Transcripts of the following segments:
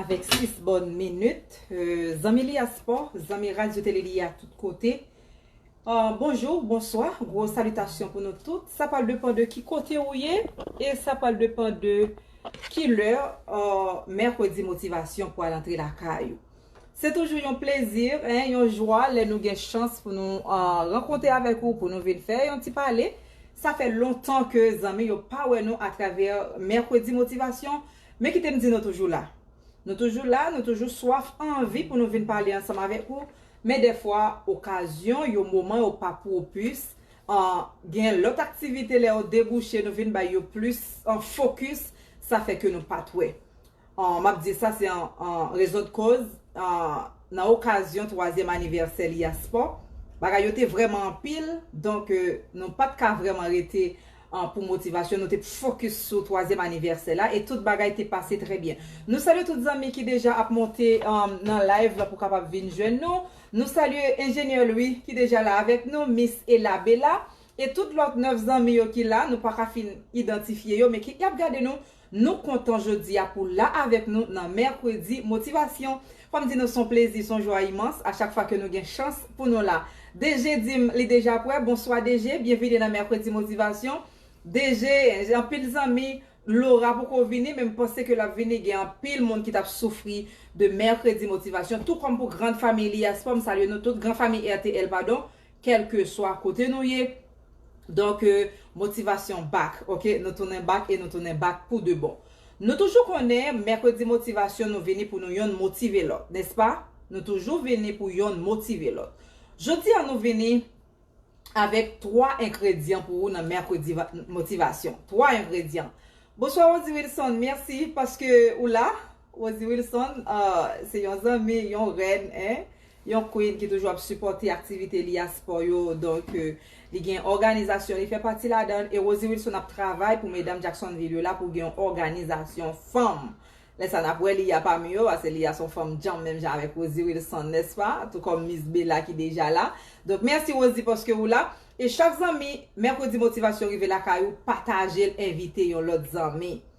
Avèk 6 bòn minit. Zanmi Li a Spò, zanmi Radyo Tele Li a tout kote. Bonjou, bonswa, gwo salitasyon pou nou tout. Sa pral depan de ki kote ou ye e sa pral depan de ki lè Mèkredi Motivasyon pral antre lakay ou. Se toujou yon plezi, yon jwa lè nou gen chans pou nou rankonte avèk ou, pou nou vin fè yon ti pale. Sa fè lontan ke zanmi yo pa wè nou atravè Mercredi Motivation, men kite m di nou toujou la. Nou toujou la, nou toujou swaf anvi pou nou vin pale ansanm avèk ou, men dèfwa okazyon yo, moman yo pa pwopis, gen lòt aktivite lè yo debouche nou vin bay yo plis fokis, sa fè ke nou pat wè. M ap di sa se an rezon de koz nan okazyon twazyèm anivèsè Liyaspò, bagay yo te vrèman anpil, donk nou pa t ka vrèman rete pou motivasyon, nou te fokis sou twazyèm anivèsè la e tout bagay te pase trè byen. Nou salye tout zanmi ki deja ap monte nan live la pou kapab vin jwenn nou. Nou salye Enjenyè Lwi ki deja la avèk nou, Mis Ela Bela e tout lòt 9 zanmi yo ki la, nou pa ka fin idantifye yo men ki ap gade nou. Nou kontan jodi a pou w la avèk nou nan Mèkredi Motivasyon. Fò m di nou s on plezi, s on jwa imans a chak fwa ke nou gen chans pou nou la. DG di m li deja prè. Bonswa DG, byenvini nan Mèkredi Motivasyon. DG, Gen anpil zanmi, Laura poko vini men m panse ke l ap vini. Gen anpil moun ki t ap soufri de Mèkredi Motivasyon tou kòm pou Grand Family a. S pò m salye nou tout, Gran Famiy RTL padon. Kèlkeswa kote nou ye Donk motivasyon back ok Nou tounen back e nou tounen back pou de bon Nou toujou konnen mèkredi motivasyon nou vini pou nou yonn motive lòt Nèspa Nou toujou vini pou yonn motive lòt Jodi a nou vini Avèk 3 engredyan pou ou nan mèkredi motivasyon 3 engredyan Bonswa Rody Wilson mèsi paske ou la. Rosie Wilson ahh se yon zanmi, yon rèn hein, yon queen ki toujou ap sipòte aktivite li a spò yo donk li gen òganizasyon li fè pati ladann e Rosie Wilson ap travay pou medam Jacksonville yo la pou gen yon òganizasyon fanm lè sa nap wè li a pami yo pase li a son fanm djanm menm jan avèk Rosie Wilson nès pa tou kòm Miss Bella ki deja la donk mèsi Rosie paske ou la e chak zanmi mèkredi motivasyon rive lakay ou patajel envite yon lòt zanmi.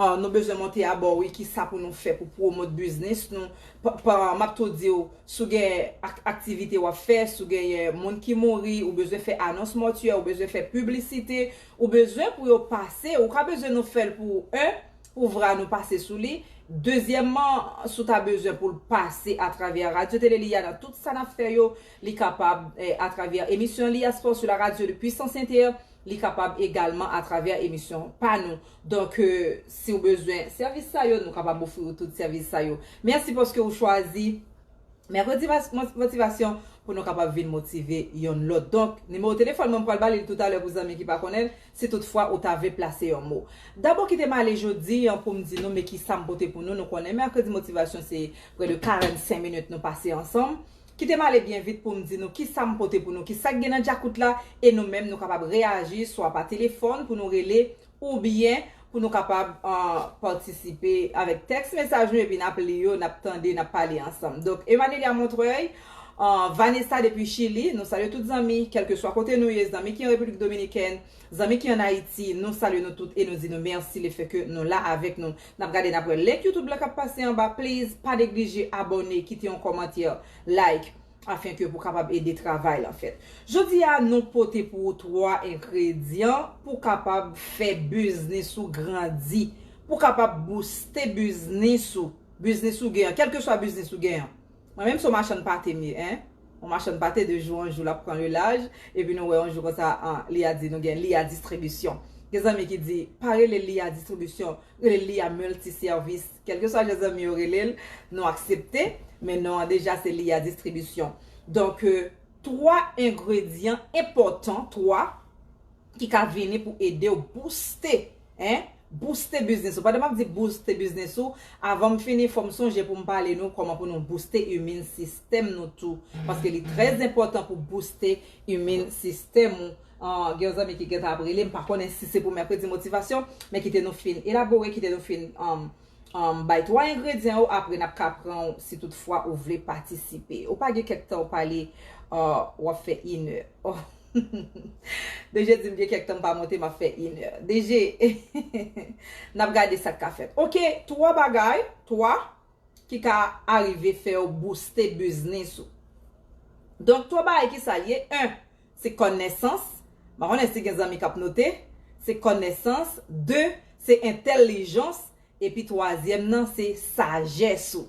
Ahh nou bezwen monte abò wi kisa pou nou fè pou promote business nou pa map tou diw sou gen aktivite wap fè sou genyen moun ki mouri ou bezwen fè anons mòtyè ou bezwen fè piblisite ou bezwen pou yo pase ou ka bezwen nou fèl pou ou 1 pou vra nou pase sou li dezyèmman sou ta bezwen poul pase atravè radyo tele li ya nan tout sa nap fè yo li kapab atravè emisyon li ya spò sou la radyo de puissance inter li kapab egalman atravè emisyon pa nou Donk si ou bezwen sèvis sa yo, nou kapab ofri ou tout sèvis sa yo. Mèsi paske ou chwazi Mercredi Motivation pou nou kapab vin motive yonn lòt. Donk, nimewo telefòn mwen, m pral ba li l toutalè pou zanmi ki pa konnen l, si tout fwa ou ta vle plase yon mo. Dabò kite m ale jodi an pou m di nou men ki sa m pote pou nou, nou konnen Mercredi Motivation se prè de 45 minit nou pase ansanm. Kite m ale byen vit pou m di nou kisa m pote pou nou, kisa k gen nan djakout la e nou menm nou kapab reyaji swa pa telefòn pou nou rele oubyen pou nou kapab patisipe avèk tèks mesaj nou epi n ap li yo, n ap tande, n ap pale ansanm. Donk Emanelia Montreuil, Vanessa depi Chili, nou salye tout zanmi kèlkeswa kote nou ye, zanmi ki an Repiblik Dominikèn, zanmi ki an Ayiti, nou salye nou tout e nou di nou mèsi lefèke nou la avèk nou. Nap gade nap wè link youtube la kap pase anba please pa neglije abòne kite yon kòmantè like afin ke pou kapab ede travay lan fèt jodi a nou pote pou ou 3 enkredyan pou kapab fè biznis ou grandi pou kapab bouste biznis ou biznis ou gen an kelkeswa biznis ou gen an. Mwen menm se yon machann pate m ye hein yon machann pate de jou an jou lap pran le laj epi nou wè yon jou konsa an li a di nou gen li a distribisyon gen zanmi ki di pa rele li a distribisyon rele li a multi sèvis kelkeswa jan zanmi yo rele l nou aksepte men non an deja se li a distribisyon donk 3 engredyan enpòtan 3 ki ka vini pou ede w bouste hein. Booste biznis ou. Pandan map di booste biznis ou, avanm fini fòm sonje poum pale nou kòman pou nou booste immune system nou tou, paske li trè enpòtan pou booste immune system ou, gen yon zanmi ki gentan ap relem m pa konnen si se pou mèkredi motivasyon, men kite nou fin elabore, kite nou fin bay 3 engredyan yo apre nap ka pran ou si tout fwa ou vle patisipe. Ou pa gen kèk tan ou pale wap fè 1 è. DG dim gen kèk tan m pa monte map fè yn è DG nap gade sak ka fèt ok 3 bagay 3 ki ka arive fèw bouste biznis ou donk 3 bagay kisal ye 1 se kònèsans m pa konnen si gen zanmi kap note se kònèsans 2 se entèlijans epi twazyèm nan se sajès ou.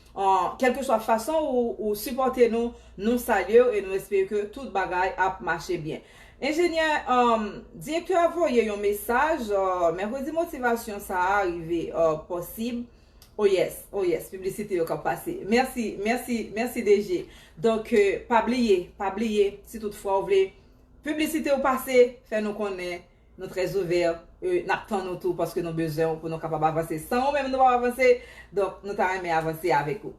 Kelkeswa fason ou sipòte nou, nou salye w e nou espere ke tout bagay ap mache byen. Enjenyè, Direktè a voye yon mesaj, Mèkredi Motivasyon sa a rive posib. O yes, o yes, piblisite yo k ap pase. Mèsi, mèsi, mèsi DG. Donk, pa bliye, pa bliye, si tout fwa ou vle piblisite ou pase, fè nou konnen. Nou très ouvert e nap tann ou tou paske nou bezwen ou pou nou kapab avanse. San ou menm nou pap avanse, donk nou ta renmen avanse avèk ou.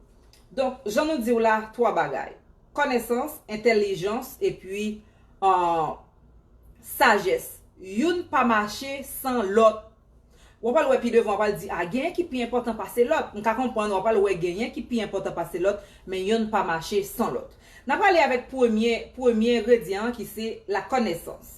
Donk jan nou diw la 3 bagay, kònèsans, entèlijans epi sajès. Youn pa mache san lòt. Wap al wè pi devan wap al di a genyen ki pi enpòtan pase lòt. M ka konprann wap al wè genyen ki pi enpòtan pase lòt, men yonn pa mache san lòt. Nap ale avèk premye premye engredyan an ki se la kònèsans.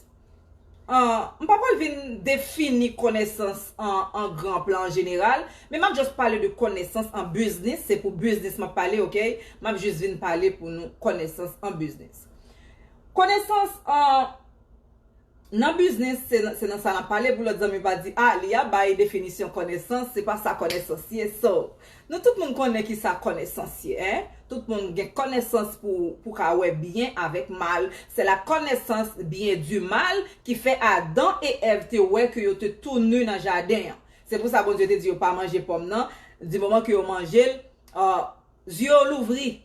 M pa pral vin defini konesans an gran plan an jeneral, men m ap just pale de konesans an biznis, se pou biznis m ap pale ok, m ap just vin pale pou nou konesans an biznis. Konesans an nan biznis se nan sa n ap pale pou lòt zanmi pa di a li a bay definisyon konesans, se pa sa konesans ye so. Nou tout moun konnen ki sa kònesans ye hein tout moun gen kònesans pou pou ka wè byen avèk mal se la kònesans byen di mal ki fè Adan e Èv te wè ke yo te tou nu nan jaden an se pou sa Bondye te di yo pa manje pòm nan di moman ke yo manjel uh zye yo louvri.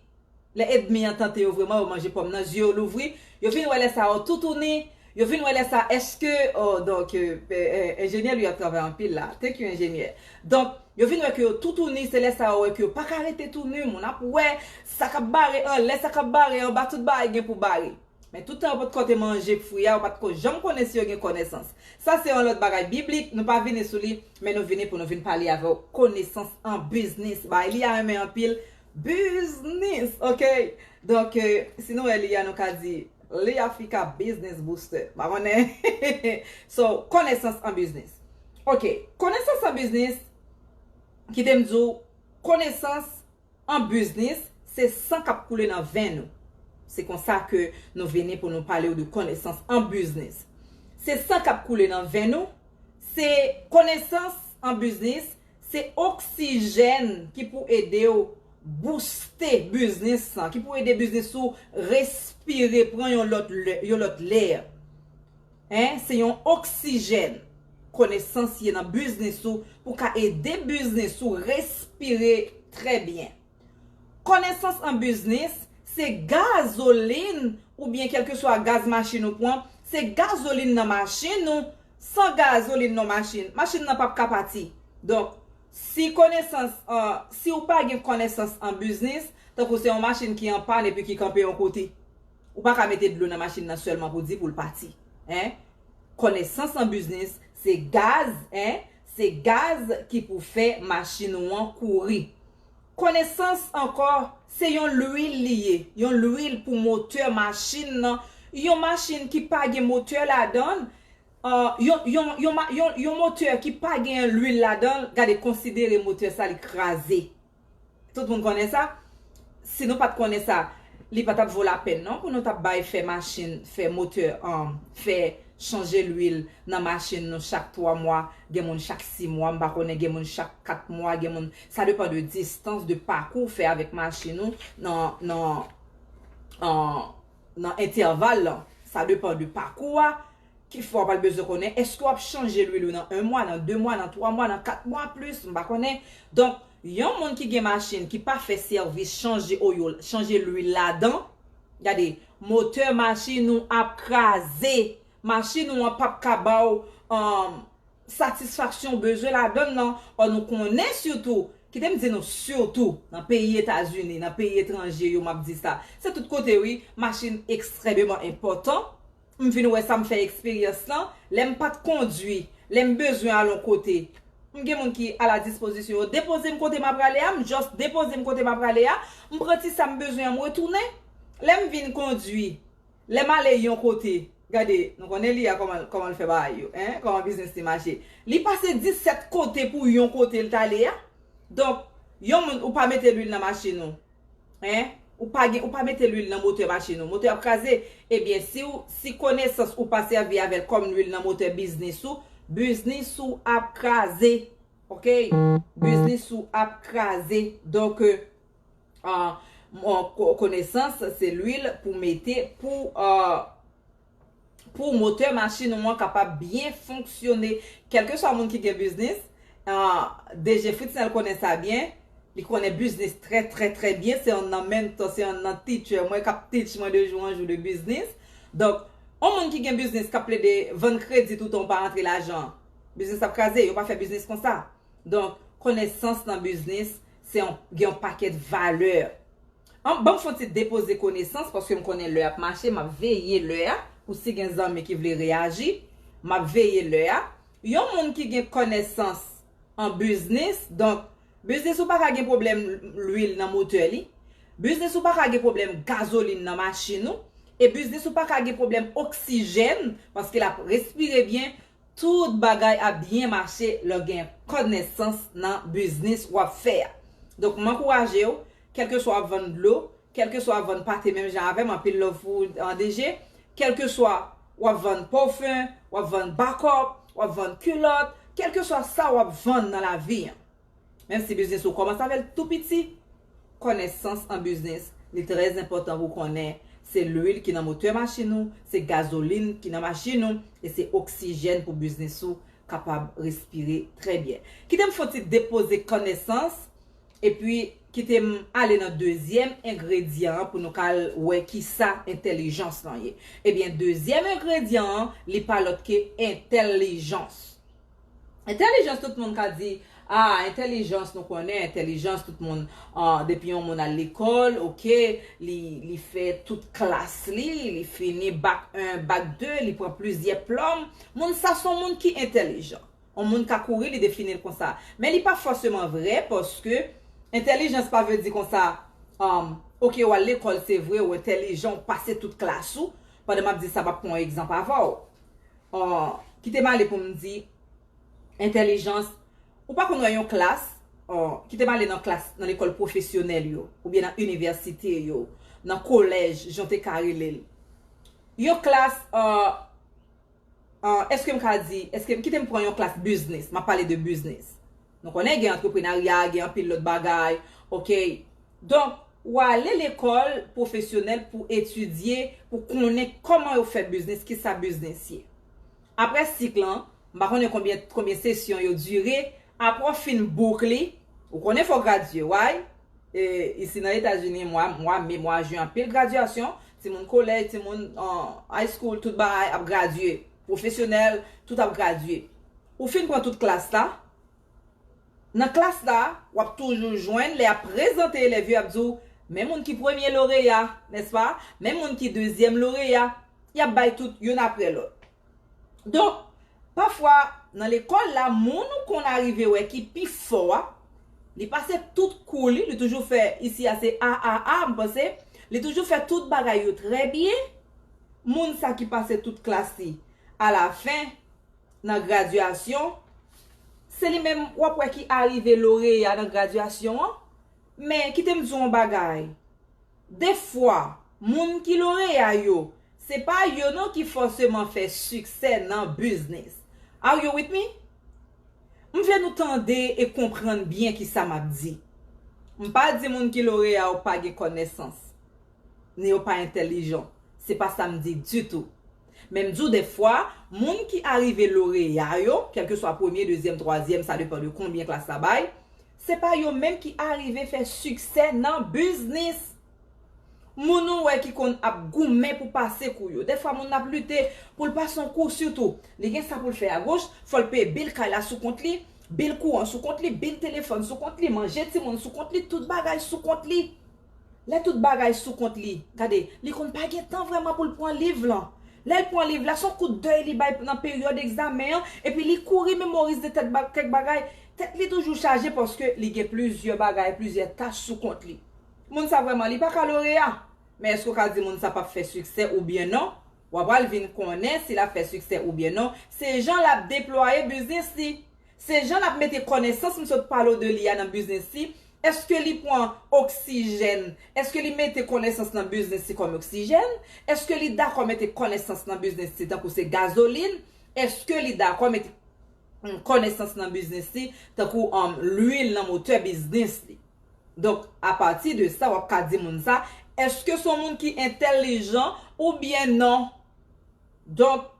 Lè edmi an tante yo vreman yo manje pòm nan zye yo louvri yo vin wè lè sa oh toutouni yo vin wè lè sa eske oh donk enjenyè lui ap travay anpil la thank you enjenyè donk yo vin wè ke yo toutouni se lè sa yo wè ke yo paka rete touni moun ap wè sa kap bare anlè sa kap bare anba tout bagay gen pou bare men tout tan yo pot ko te manje fwi a yo pat ko janm konnen si yo gen konesans sa se yon lot bagay biblik nou pa vini sou li men nou vini pou nou vin pale avèw konesans an biznis bagay li a renmen anpil Biznis ok Donk si nou wè li a nou ka di li Africa Business Booster pa konnen So konesans an biznis Ok konesans an biznis Kite m di w konesans an biznis se san k ap koule nan venn ou Se konsa ke nou vini pou nou pale w de konesans an biznis Se san k ap koule nan venn ou Se konesans an biznis Se oksijèn ki pou ede w bouste biznis lan, ki pou ede biznis ou respire, pran yon lòt lè. Se yon oksijèn konesans ye nan biznis ou pou ka ede biznis ou respire trè byen. Konesans an biznis, se gazolin oubyen kèlkeswa gaz machin ou pwan, se gazolin nan machin ou, san gazolin nan machin, machin nan pap ka pati. Donk, si konesans an, si ou pa gen konesans an biznis, tankou se yon machin ki an pàn epi ki kanpe yon kote, ou pa ka mete dlo nan machin nan sèlman pou di pou l pati. Hein? Konesans an biznis, se gaz, hein, se gaz ki pou fè machin ou an kouri. Konesans ankò, se yon lwil li ye, yon lwil pou motè machin nan, yon machin ki pa gen motè ladan l, yon, yon, yon ma, yon, yon motè ki pa gen lwil ladan l, gade konsidere motè sa li kraze. Tout moun konnen sa? Si nou pa t konnen sa, li pa t ap vo lapèn non pou nou t ap bay fè machin, fè motè, fè chanje lwil nan machin nou chak twa mwa, gen moun chak si mwa, m pa konnen gen moun chak kat mwa, gen moun. Sa depan de distans, de pakou ou fè avèk machin ou nan entèval lan. Sa depan de pakou a, ki fè w pral bezwen konnen èske w ap chanje lwil ou nan 1 mwa, nan 2 mwa, nan 3 mwa, nan 4 mwa plis, m pa konnen. Donk, yon moun ki gen machin ki pa fè sèvis chanje oil, chanje lwil ladan, gade, motè machin ou ap kraze. Machin ou an p ap ka ba w. satisfaksyon bezwen ladann lan, ò nou konnen sitou, kite m di nou sitou, nan peyi Etazini, nan peyi etranje yo m ap di sa, se tout kote wi, machin ekstrèmeman enpòtan, m vin wè sa m fè eksperyans lan, lè m pa t kondui, lè m bezwen al on kote, m gen moun ki a la dispozisyon yo depoze m kote m aprale a, m just depoze m kote m aprale a, m pran ti sa m bezwen an m retounen, lè m vin kondui, Lè m ale yon kote, gade, nou konnen li a kòman kòman l fè bagay yo, hein, kòman biznis li mache. Li pase 17 kote pou yon kote l t ale a. Donk, yon moun ou pa mete lwil nan machin ou, hein, ou pa gen ou pa mete lwil nan motè machin ou, motè ap kraze. Ebyen, si w si konesans ou pa sèvi avè l kòm lwil nan motè biznis ou, biznis ou ap kraze. Oke, biznis ou ap kraze. Donk, konesans se lwil pou mete pou pou motè machin ou an kapab byen fonksyone kèlkeswa moun ki gen biznis DG Fritznel konnen sa byen li konnen biznis trè trè trè byen se yon nan menntò se yon nan teacher mwen kap teach mwen de jou an jou de biznis donk yon moun ki gen biznis kap plede vann kredi tout an ou pa rantre lajan biznis ap kraze yo pa fè biznis konsa. Donk, konesans nan biznis, se yon, gen yon pakèt valè. An, ban m fon ti depoze konesans, paske m konnen lè ap mache, m ap veye lè a, pou si gen zanmi ki vle reyaji, m ap veye lè a. Yon moun ki gen kònèsans an biznis, donk, biznis ou pa ka gen pwoblèm lwil nan motè li, biznis ou pa ka gen pwoblèm gazolin nan machin ou, e biznis ou pa ka gen pwoblèm oksijèn, paske l ap respire byen, Tout bagay ap byen mache lè w gen kònesans nan biznis w ap fè a. Donk m ankouraje w, kèlkeswa w ap vann dlo, kèlkeswa w ap vann pate menm jan avè m anpil love pou ou DG, kèlkeswa w ap vann pòfen, w ap vann bakòp, w ap vann kilòt, kèlkeswa sa w ap vann nan lavi an, Menm si biznis ou kòmanse avèl tou piti, kònèsans an biznis, li trè enpòtan pou konnen se lwil ki nan motè machin ou, se gazolin ki nan machin ou, e se oksijèn pou biznis ou kapab respire trè byen. Kite m fon ti depoze kònèsans, epi kite m ale nan dezyèm engredyan an pou nou ka al wè kisa entèlijans lan ye. Ebyen dezyèm engredyan an li pa lòt ke entèlijans. Entèlijans tout moun ka di ah entèlijans nou konnen entèlijans tout moun ah depi yon moun al lekòl ok li li fè tout klas li li fini bak 1 bak 2 li pran plizyè plòm moun sa son moun ki entèlijan yon moun ka kouri li definil konsa men li pa fòseman vrè paske entèlijans pa vle di konsa ahmm ok ou al lekòl se vre ou entèlijan ou pase tout klas ou pandan map di sa map pran yon egzanp avèw. Aww kite m ale pou m di entèlijans ou pa konn wè yon klas aww kite m ale nan klas nan lekòl pwofesyonèl yo oubyen nan inivèsite yo nan kolèj jan w te ka rele l yon klas aww èske m ka di èske kite m pran yon klas biznis m ap pale de biznis Nou konnen gen antreprenarya, gen anpil lòt bagay, ok. Donk, ou ale lekòl pwofesyonèl pou etidye, pou konnen kòman yo fè biznis, ki sa biznis ye. Apre sik lan, m pa konnen konbyen, konbyen sesyon yo dire, apre w fin bouk li, ou konnen fò w gradye, way? E, isi nan Etazini, mwa, mwa me, mwa jen, anpil gradyasyon, timoun kolèj, timoun, ahh, high school, tout bagay ap gradye, pwofesyonèl, tout ap gradye. Ou fin pran tout klas la. Nan klas la, w ap toujou jwenn lè y ap prezante elèv yo, y ap di w, Men moun ki premye loreya, nèspa? Men moun ki dezyèm loreya? Y ap bay tout youn apre lòt. Donk, pafwa, nan lekòl la, moun ou konn arive wè ki pi fò a, li pase tout kou li, li toujou fè, isi a se A, A, A, m panse, li toujou fè tout bagay yo trè byen, moun sa ki pase tout klas li, alafen, nan gradyasyon, se li menm w ap wè ki arive loreya nan gradyasyon an, men kite m di w yon bagay, defwa moun ki loreya yo, se pa yo non ki fòseman fè siksè nan biznis. Are you with me? M vle nou tande e konprann byen ki sa m ap di. M pa di moun ki loreya yo pa gen kònesans, ni yo pa entèlijan, se pa sa m di ditou. Men m di w dèfwa, moun ki arive loreya yo, kèlkeswa premye, dezyèm, twazyèm, sa depan de konbyen klas la bay, se pa yo menm ki arive fè siksè nan biznis! Moun ou wè ki konn ap goumen pou pase kou yo, dèfwa moun nan ap lite pou l pase yon kou, sitou, li gen sa pou l fè agoch, fò l peye bil kay la sou kont li, bil kouran sou kont li, bil telefòn sou kont li, manje timoun sou kont li, tout bagay sou kont li. Lè tout bagay sou kont li, gade, li konn pa gen tan vrèman pou l pran liv lan. Lè l pran liv la, s on kout dèy li bay nan peryòd egzamen an, epi li kouri memorize tèt kèk bagay. Tèt li toujou chaje paske li gen plizyè bagay, plizyè tach sou kont li. Moun sa vrèman li pa ka loreya. Men èske w ka di moun sa p ap fè siksè oubyen non? W apral vin konnen si l ap fè siksè oubyen non se jan l ap deplwaye biznis li. Se jan lap mete konesans m sot pale w de li a nan biznis li, eske li pwan oksijèn, eske li mete konesans nan biznis li kom oksijèn, eske li dako mete konesans nan biznis li tankou se gazolin, eske li dako mete konesans nan biznis li tankou lwil nan motè biznis li. Donk a pati de sa wap ka di moun sa eske son moun ki entèlijan ou byen non. Donk.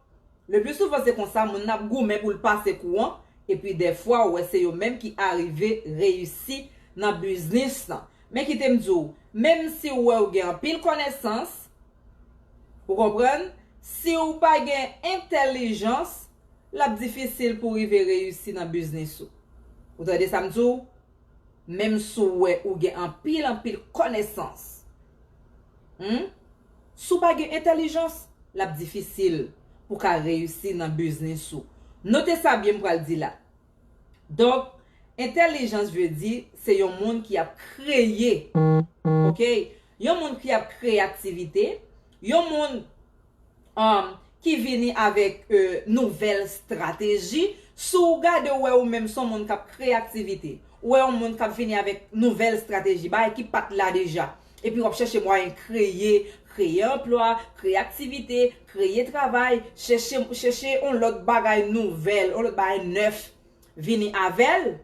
Le plus souvent se konsa moun nan ap goumen pou l pase kou an, epi dèfwa ou wè se yo menm ki arive reyisi nan biznis lan. Men kite m di w, menm si w wè w gen anpil kònesans, ou konprann, si w pa gen entèlijans, l ap difisil pou w rive reyisi nan biznis ou. Ou tande sa m di w? Menm si w wè ou gen anpil anpil kònesans, humm, si w pa gen entèlijans, l ap difisil pou w ka reyisi nan biznis ou. Note sa byen m pral di la. Donk, entèlijans vle di se yon moun ki ap kreye, ok, yon moun ki ap kreyativite, yon moun. ki vini avèk nouvèl strateji, si w gade w wè ou menm se yon moun k ap kreye aktivite, ou wè yon moun k ap vini avèk nouvèl strateji, bagay ki pa t la deja, epi w ap chèche mwayen kreye, kreye anplwa, kreye aktivite, kreye travay, chèche yon lòt bagay nouvèl, yon lòt bagay nèf vini avè l.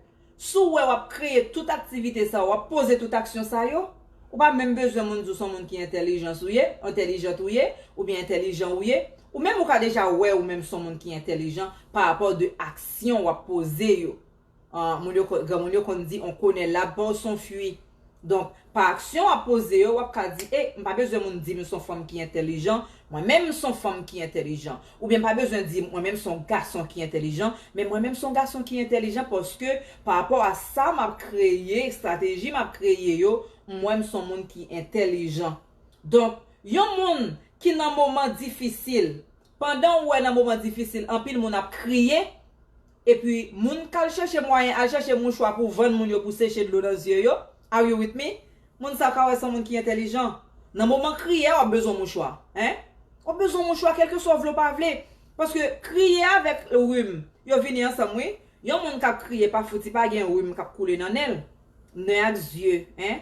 Si w wè w ap kreye tout aktivite sa yo, w ap poze tout aksyon sa yo, ou pa menm bezwen moun di w se yon moun ki entelijans ou ye, entelijant ou ye, oubyen entelijan ou ye, ou menm ou ka deja wè ou menm se yon moun ki entelijan pa rapò de aksyon w ap poze yo. An, moun yo konn, granmoun yo konn di on kone lab pa w son fwi. Donk, pa aksyon w ap poze yo, w ap ka di, e, m pa bezwen moun di m m s on fanm ki entèlijan, mwen menm m s on fanm ki entèlijan. Oubyen m pa bezwen di mwen menm m s on gason ki entèlijan, men mwen menm m s on gason ki entèlijan paske parapò a sa m ap kreye, estrateji m ap kreye yo, m wè m s on moun ki entèlijan. Donk, yon moun ki nan moman difisil, Pandan ou wè nan moman difisil anpil moun ap kriye, epi moun kal chèche mwayen al chèche mouchwa pou vann moun yo pou seche dlo nan zye yo, are you with me? Moun sa ka wè son moun ki entèlijan. Nan moman kriye a wap bezwen mouchwa. Hein? Wap bezwen mouchwa kelkeswa w vle w pa vle. Paske kriye avèk rhum yo vini ansanm wi. Yon moun kap kriye pa fouti pa gen rhum kap koule nan nenl. Nè ak zye hein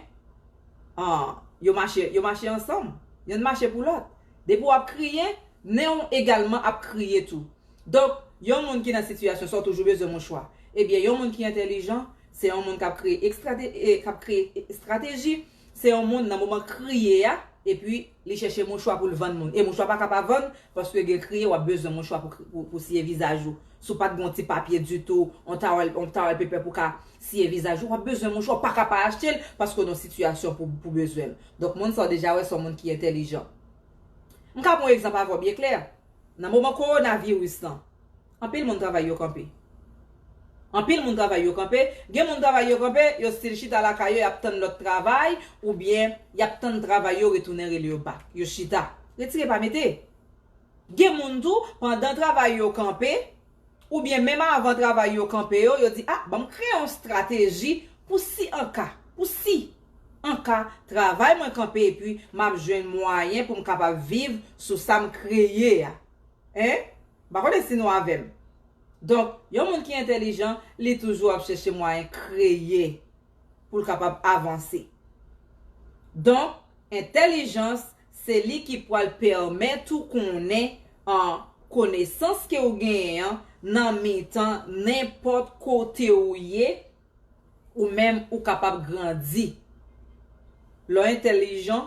ahh yo mache yo mache ansanm yonn mache pou lòt depi wap kriye nen w egalman ap kriye tou donk yon moun ki nan sitiyasyon sa w toujou bezwen mouchwa ebyen yon moun ki entèlijan se yon moun kap kreye estrateji Se yon moun nan moman kriye a epi li chèche mouchwa pou l vann moun e mouchwa pa ka pa vann paske gen kriye w ap bezwen mouchwa pou siye vizaj ou si w pa t gen yon ti papye ditou yon towel paper pou w ka siye vizaj ou w ap bezwen mouchwa ou pa ka pa achte l paske w nan yon sitiyasyon pou bezwen l donk moun sa w deja wè se yon moun ki entèlijan m ka pran yon egzanp avè w byen klè nan moman kowona viris lan. Anpil moun travay yo kanpe. Anpil moun travay yo kanpe, gen moun travay yo kanpe, yo stil chita lakay yo yap tann lòt travay oubyen yap tann travay yo retounen rele yo bak. Yo chita. Retire pa mete. Gen moun tou, pandan travay yo kanpe, oubyen menm avan travay yo kanpe yo, yo di ah banm kreye yon strateji pou si an ka, pou si an ka travay mwen kanpe epi map jwenn mwayen poum kapab viv sou sam kreye a. Hein? M pa konnen si nou avè m. Donk, yon moun ki entèlijan, li toujou ap chèche mwayen kreye pou l kapab avanse. Donk, entèlijans, se li ki pral pèmèt ou konnen an konesans ke ou genyen an nan mitan nenpòt kote ou ye, ou menm ou kapab grandi. Lè w entèlijan,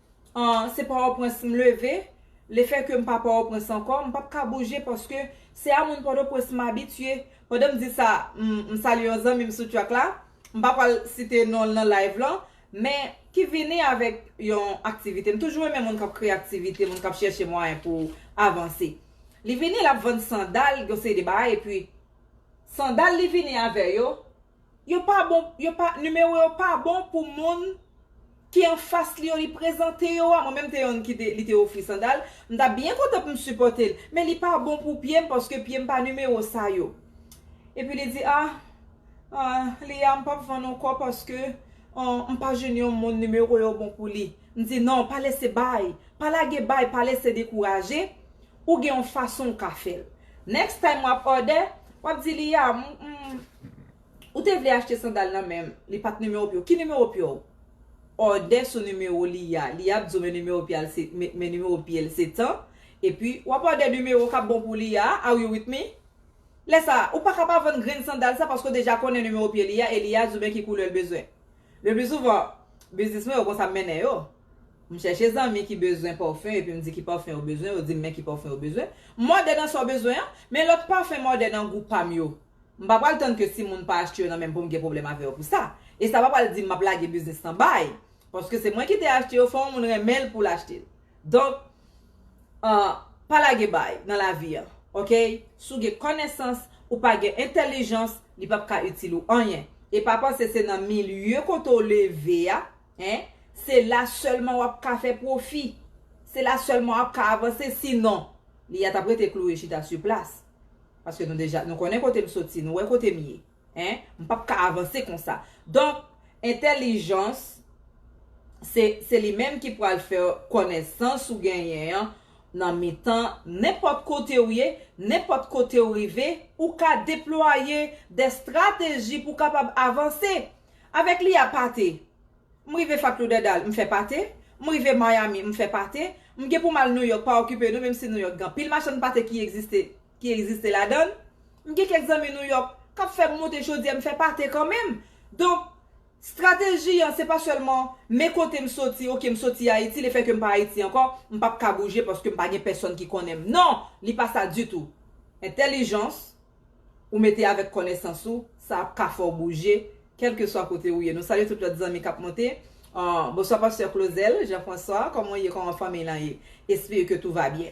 Ahh se pòtoprens m leve, le fè ke m pa pòtoprens ankò, m pap ka bouje paske se a moun pòtoprens m abitye. Pandan m di sa, m salye yon zanmi m sou track la, m pa pral site non l nan live lan, men ki vini avèk yon aktivite. M toujou renmen moun k ap kreye aktivite, moun k ap chèche mwayen pou avanse. Li vini l ap vann sandal, yon seri de bagay epi sandal li vini avè yo, Yo pa bon yo pa numéro yo pa bon pou moun ki anfas li yo li prezante yo a mwen menm te yonn kite li te ofri sandal m tap byen kontan pou m sipòte l men li pa bon pou pye m paske pye m pa numéro sa yo epi li di ah ah li a m pap vann ankò paske ahh m pa jwenn yon moun numéro yo bon pou li m di non pa lese bay pa lage bay pa lese dekouraje. Ou gen yon fason ou ka fèl. Next time wap order, wap di li ya m Ou te vle achte sandal nan men li pat numéro pye w. Ki numéro pye w? Order sou numéro li ya. Li ap di w men numéro pye al se men numéro pye l se tan epi wap order numéro kap bon pou li ya a Are you with me? Lè sa a, ou paka pa vann grenn sandal sa paske w deja konnen numéro pye li ya e li ya di w men ki koulè l bezwen. Lepli souvan, biznis mwen yo konsa m mennen yo. M chèche zanmi ki bezwen pòfen epi m di ki pòfen yo bezwen, yo di m men ki pòfen yo bezwen. M mòde nan sa w bezwen an, men lòt pafen mòde nan gou pa m yo. M pa pral tann ke si moun pa achte yo nan men m pou m gen pwoblèm avè yo pou sa. E sa pa pral di m m ap lage biznis lan bay. Paske se mwen ki te achte yo, fò yon moun renmen l pou l achte l. Donk ahh pa lage bay nan lavi an ok si w gen konesans ou pa gen entelijans li pap ka itil ou anyen e pa panse se nan milye kote w leve a hein se la selman wap ka fè pwofi se la selman wap ka avanse si non li a tap rete kloure chita su plas paske nou deja nou konnen kote m soti nou wè kote m ye. Hein? M pap ka avanse konsa. Donk, entèlijans, se, se li menm ki pral fè w kònesans ou genyen an nan mitan nenpòt kote ou ye, nenpòt kote ou rive, ou ka deplwaye dè strateji pou w kapab avanse. Avèk li a pate. M rive Fat Lauderdale, m fè pate. M rive Miami, m fè pate. M gen pou m al Nouyòk, pa okipe nou, menm si Nouyòk gen anpil machann pate ki egziste. ki egziste ladan l M gen kèk zanmi Nouyòk k ap fè m monte chodyè m fè pate kanmenm Donk strateji an se pa sèlman men kote m soti ok m soti Ayiti le fè ke m pa Ayiti ankò m p ap ka bouje paske m pa gen pèsòn ki konnen m non li pa sa ditou Entèlijans ou mete avèk kònesans ou sa ap ka fè w bouje kèlkeswa kote ou ye Nou salye tout lòt zanmi k ap monte Bonswa pastè Clauzel Jean François kòman w ye kòman fanmiy lan ye Espere ke tou va byen.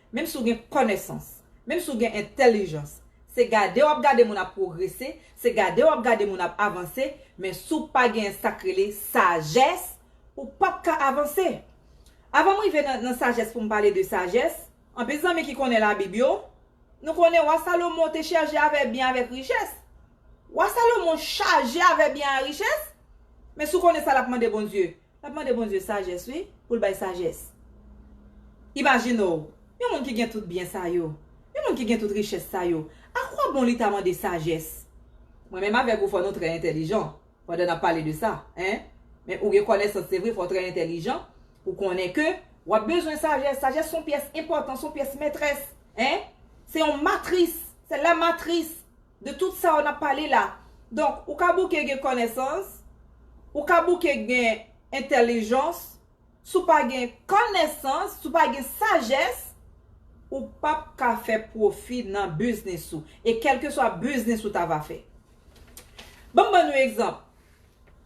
Menm si w gen kònesans, menm si w gen entèlijans, se gade w ap gade moun ap pwogrese, se gade w ap gade moun ap avanse, men si w pa genyen sa k rele sajès, ou p ap ka avanse. Avan m rive nan sajès pou m pale de sajès, anpil zanmi ki konnen Labib yo, nou konnen wa Salomon te chaje avè byen avèk richès. Wa Salomon chaje avè byen a richès, men si w konnen sa l ap mande Bondye, Lap mande Bondye sajès wi poul bay sajès. Imajine w, yon moun ki gen tout byen sa yo, yon moun ki gen tout richès sa yo, a kwa bon li ta mande sajès? Mwen menm avèk ou fò nou trè entèlijan pandan nap pale de sa hein, men ou gen kònèsans se vre fò w trè entèlijan pou konnen ke wap bezwen sajès, sajès son pyès enpòtan, son pyès mètrès hein, se yon matris, c'est la matrice. De tout sa yo nap pale la. Donk ou ka bouke gen konesans, ou ka bouke gen entelijans, si w pa gen konesans, si w pa gen sajès, ou pap ka fè pwofi nan biznis ou. E kelkeswa biznis ou ta va fè. Banm ban nou egzanp.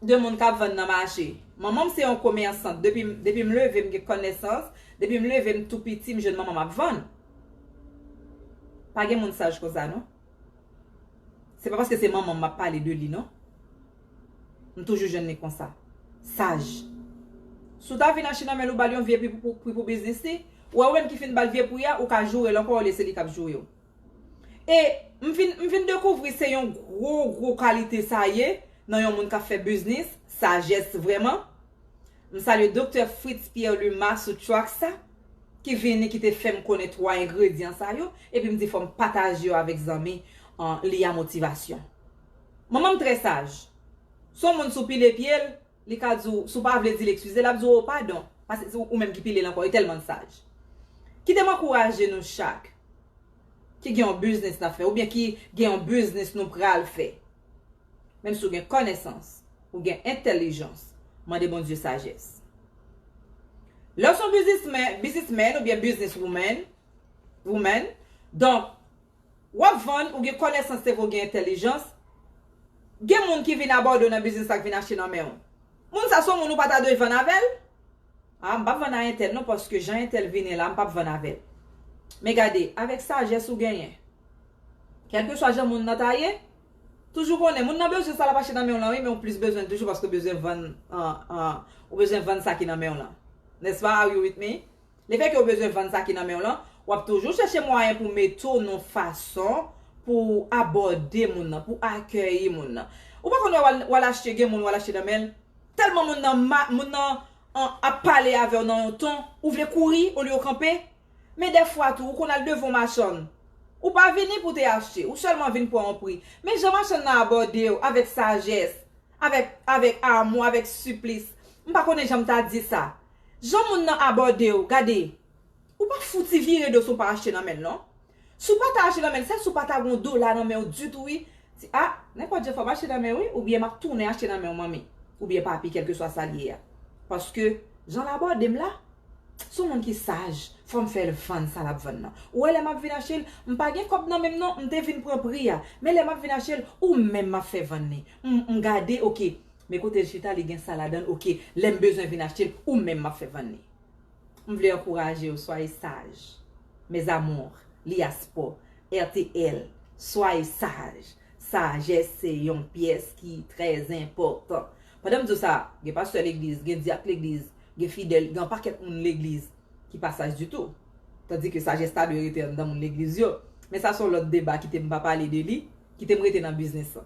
de moun kap vann nan mache. Manmanm se yon komèsant depim depim leve m gen kònèsans depim leve m tou piti m jwenn manmanm ap vann. Pa gen moun saj konsa non. Se pa paske se manmanm map pale de li non. M toujou jwenn li konsa. Saj. Si w ta vin achte nan menl ou bal yon vye pri pou pri pou biznis li, ou wè ou menm ki fin bal vye pri a ou ka joure l ankò olye se li kap joure w. E m vin m vin dekouvri se yon gwo gwo kalite sa ye nan yon moun k ap fè biznis, sajès vrèman. M salye Doktè Fritz Pierre Luma sou track sa ki vini ki te fè m konnen 3 engredyan sa yo epi m di fò m pataje yo avèk zanmi li a Motivation. Manman m trè saj. S on moun sou pile pye l. Li ka di w, si w pa vle di l ekskize, l ap di w o padon, pase se ou menm ki pile l ankò, li tèlman l saj. Kite m ankouraje nou chak ki gen yon biznis n ap fè oubyen ki gen yon biznis nou pral fè. Menm si w gen kònesans, ou gen entèlijans, mande Bondye sajès. Lè w se yon bizismè, bizismèn oubyen biznis woumen, woman, donk, Wap vann ou gen konesans se vre ou gen entelijans, gen moun ki vin a Bordeaux nan biznis la k vin achte nan menw. Moun sa son moun ou pa ta dwe vann avèl? Ah m pap vann a entèl non paske jan entèl vini la m pap vann avèl. Men gade avèk sajès ou genyen kèlkeswa jan moun nan ta ye toujou konnen moun nan bezwen sa lap achte nan menw lan wi men ou plis bezwenl toujou paske ou bezwen vann ou bezwen vann sa ki nan menw lan. N'est-ce pas? Are you with me? Lefètke ou bezwen vann sa ki nan men w lan, w ap toujou chèche mwayen pou mete w nan fason pou w abòde moun nan, pou w akèyi moun nan. Ou pa konn wè w al achte, gen moun w al achte nan men l, tèlman moun nan mal, moun nan ap pale avè w nan yon ton, ou vle kouri olye w kanpe. Men dèfwa tou, ou konn al devan yon machann, ou pa vini pou w te achte, ou sèlman vin pran yon pri. Men jan machann nan abòde w, avèk sajès, avèk, avèk amou, avèk siplis, m pa konnen jan m ta di sa. Jan moun nan abòdew gade ou pa fouti vire do si w pa achte nan menl non si w pata achte nan menl sèl si w pata gen yon dola nan menw ditou wi ti a nenpòt jan fòm achte nan menw wi oubyen map tounen achte nan menw manmi oubyen papi kèlkeswa sal ye a paske janl abòdem la son moun ki saj fòm fèl vann sa lap vann nan ou wè lè map vin achel m pa gen kòb nan menm non m te vin pran pri a men lè map vin achel ou menm map fè vann li m gade ok Men kotel chita li gen sa ladann ok lèm bezwen vin achtel ou menm map fè vann li m vle ankourajew soyez sage mes amours li a spò rtl soyez sage sajès se yon pyès ki trè zenpòtan pandanm diw sa gen pastè legliz gen dyak legliz gen fidèl gen anpakèt moun legliz ki pa saj ditou tandi ke sajès ta dwe rete anndan moun legliz yo men sa son lòt deba kitem pa pale de li kitem rete nan biznis lan.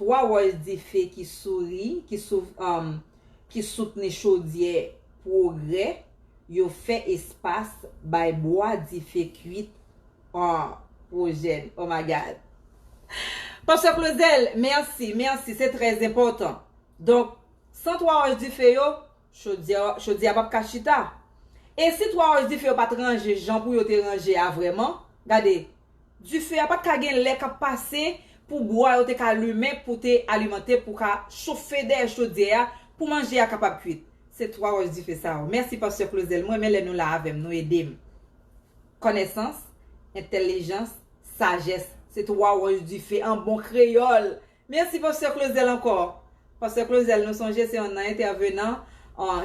3 wòch dife ki souri, ki sou, um, ki soutni chodyè Pwogrè yo fè espas bay bwa dife kuit Andwojèn. Oh my God! Pastè Claudel, mèsi, mèsi, se trè enpòtan. Donk, san 3 wòch dife yo, Chodyè a pap ka chita. E si 3 wòch dife yo pat ranje jan pou yo te ranje a vrèman? Gade, dife a pat ka gen lè kap pase pou bwa yo te ka limen pou te alimante pou ka chofe dèyè chodyè a pou manje a kapab kuit. Se 3 wòch dife sa yo. Mèsi Pastè Clauzel. M renmen lè nou la avè m. Nou ede m. Kònèsans, entèlijans, sajès. Se 3 wòch dife an bon kreyòl Merci Pasteur Clauzel ankò. Pasteur Clauzel nou sonje se yon nan entèvenan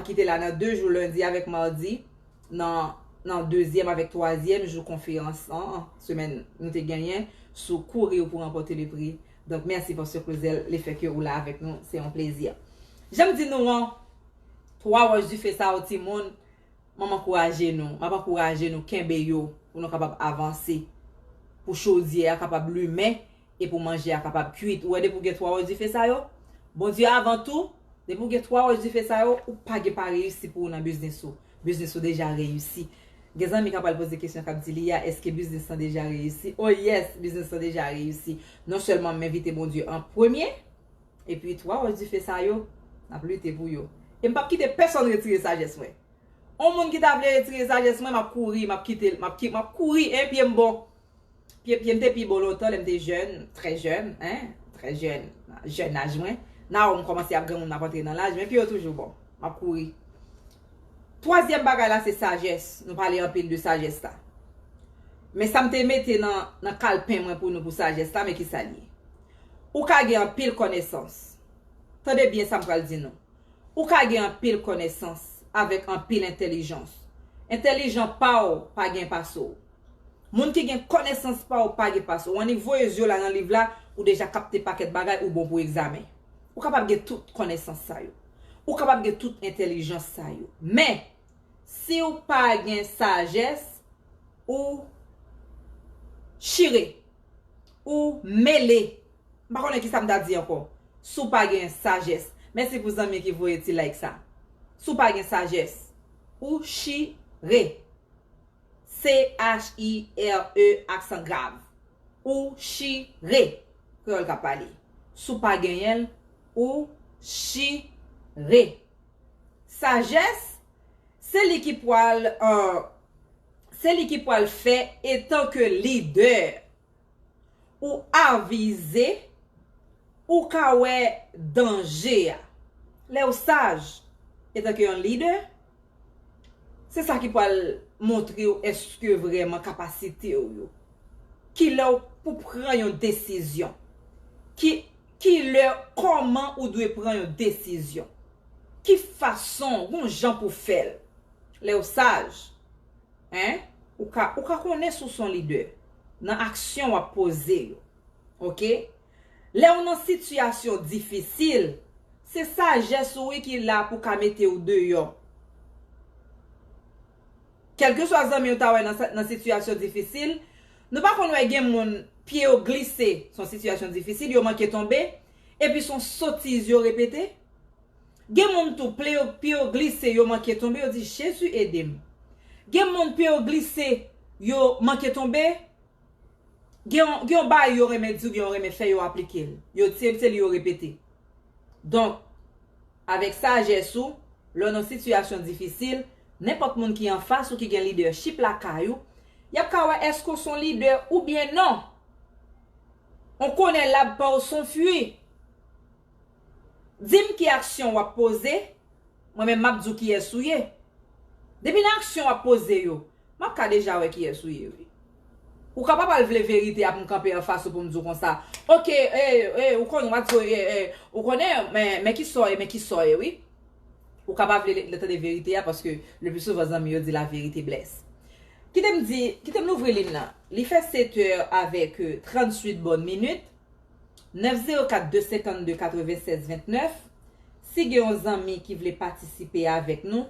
ki te la nan 2 jou lundi avèk mardi nan nan dezyèm avèk twazyèm jou konferans an semèn nou te genyen sou courir pour remporter le prix donk merci Pasteur Clauzel le fait que ou la avèk nou se yon plezi janm di nou an 3 roches du feu sa yo timoun map ankouraje nou map ankouraje nou kenbe yo pou nou kapab avanse pou chodyè a kapab limen E pou manje a kapab kuit. Ou wè depi ou gen 3 wòch dife sa yo, Bondye avan tou, depi ou gen 3 wòch dife sa yo, ou pa gen pa reyisi pou ou nan biznis ou. Biznis ou deja reyisi. Gen zanmi ka pral poze kesyon kap di li ya, eske biznis lan deja reyisi? Oh yes, biznis lan deja reyisi. Non sèlman m envite Bondye an premye, epi 3 wòch dife sa yo, n ap lite pou yo. E m pap kite pèsòn retire sajès mwen. On moun ki ta vle retire sajès mwen, m ap kouri, m ap kite l, m ap kouri, 1 pye m bon. Pye pye m te pi bon lontan lè m te jèn, trè jèn, hein, trè jèn, nan jèn aj mwen. Nao m kòmanse ap granmoun m ap antre nan laj, men pye yo toujou bon. M ap kouri. Twazyèm bagay la se sajès, nou pale anpil de sajès la. Men sa m te mete nan nan kalpen mwen pou nou pou sajès la, men ki sa l ye. Ou ka gen anpil kònesans. Tande byen sa m pral di nou. Ou ka gen anpil kònesans avèk anpil entèlijans. Entèlijan pa w pa gen pa sou w. Moun ki gen konesans pa ou pa gen pas ou annik voye zye w la nan liv la ou deja kapte pakèt bagay ou bon pou egzamen ou kapab gen tout konesans sa yo ou kapab gen tout entelijans sa yo men si w pa gen sajès ou chire ou mele m pa konnen kisa m ta di ankò si w pa gen sajès mèsi pou zanmi ki voye ti like sa si w pa gen sajès ou chire. CHIRE aksan grav Ou chi re Kreyòl k ap pale Si w pa genyen l Ou chi re Sajès Se li ki pwal Se li ki pwal fè Etanke lidè Ou avize, ou ka wè danje a. Lè ou saj, etanke yon lidè, se sa ki pral montre ou eske vrèman kapasite ou yo. Ki lè ou pou pran yon desizyon. Ki lè, kòman ou dwe pran yon desizyon. Ki fason, gon jan pou fè l. Lè ou saj, hein ou ka ou ka konnen si w son lidè nan aksyon wap poze yo ok lè ou nan sitiyasyon difisil se sajès ou wi ki la pou ka mete w deyò kèlkeswa zanmi ou ta wè nan sitiyasyon difisil nou pa konn wè gen moun pye yo glise son sitiyasyon difisil yo manke tonbe epi son sotiz yo repete. Gen moun tou ple yo pye yo glise yo manke tonbe yo di jezi edem gen moun pye yo glise yo manke tonbe gen yon gen yon bagay yo renmen di oubyen yo renmen fè yo aplikel yo di se li yo repete donk avèk sajès ou lè w nan sitiyasyon difisil nenpòt moun ki anfas ou ki gen lidèchip lakay ou yap ka wè èske w son lidè oubyen non on konè lab pa w son fwi. Dim ki aksyon wap poze, mwen menm map di w kiyès ou ye. Depi nan aksyon wap poze yo, map ka deja wè kiyès ou ye wi. Ou ka pa pral vle verite a pou m kanpe anfas ou pou m di w konsa, ok ee ou konn wap di w ee ou konnen men ki sa w ye men ki sa w ye wi. Ou ka pa vle lè tande verite a paske le pli souvan zanmi yo di la verite blès. Kite m di, kite m louvri line nan. Li fè 7 è avèk 38 bòn minit. 904 252 96 29 si gen yon zanmi ki vle patisipe avèk nou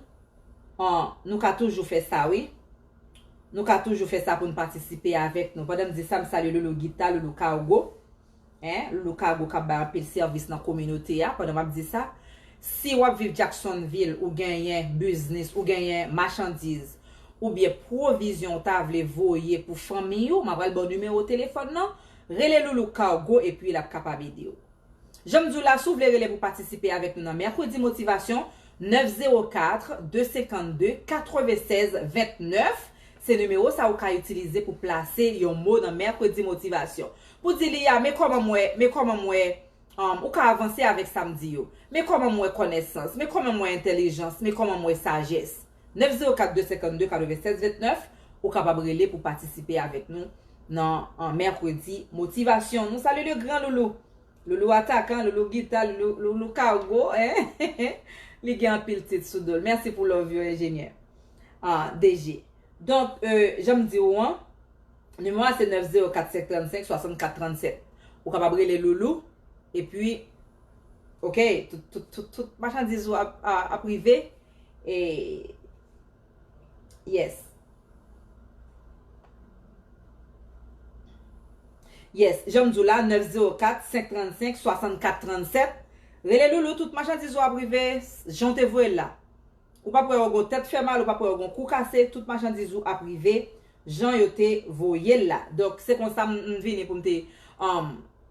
an nou ka toujou fè sa wi nou ka toujou fè sa poun patisipe avèk nou pandan m di sa m salye loulou gita loulou kargo en loulou kargo kap bay anpil sèvis nan kominote a pandan map di sa si wap viv Jacksonville ou genyen biznis ou genyen machandiz oubyen pwovizyon ou ta vle voye pou fanmiy ou ma pral baw nimewo telefòn nan Rele Loulou Cargo epi l ap kapab ede w. Jan m di w la, si w vle rele pou patisipe avèk nou nan Mèkredi Motivasyon, 9 04 252 96 29 se nimewo sa ou ka itilize pou plase yon mo nan Mèkredi Motivasyon. Pou di li a, men kòman m wè, men kòman m wè, um, ou ka avanse avèk sa m di yo. Men kòman m wè kònèsans, men kòman m wè entèlijans, men kòman m wè sajès. 904 252 96 29 ou kapab rele pou patisipe avèk nou nan mèkredi motivasyon nou salye le gran loulou loulou atakan loulou gita loulou kargo eeh li gen anpil tit sou dol mèsi pou love yo enjenyè ahh DG donk janm di ou an nimewo a se 904 535 64 37 ou kapab rele loulou epi ok tout machandiz ou ap rive. E Yes Yes Jan m di w la 904 535 64 37 Rele Loulou tout machandiz ou ap rive jan w te voye l la Ou pap wè yo gon tèt fè mal ou pap wè yo gon kou kase tout machandiz ou ap rive jan yo te voye l la Donk se konsa m vini pou m te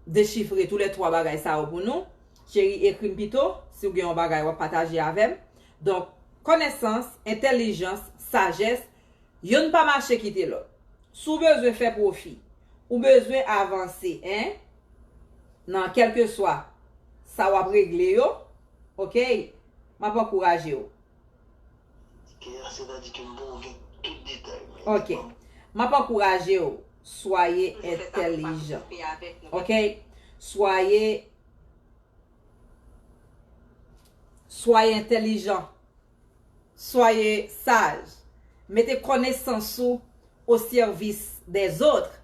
dechifre tou lè 3 bagay sa yo pou nou. Cheri ekrim pito si ou gen yon bagay wap pataje avèm donk konèsans entèlijans sajès yonn pa mache kite lòt si w bezwen fè pwofi ou bezwen avanse hein nan kèlkeswa sa wap regle yo ok map ankouraje w. Kea sètadi ke m poko gen tout detay men di ok map ankouraje w soye entèlijan ok soye Soyez intelligent. Soyez sage. Mete konesans ou au service des autres.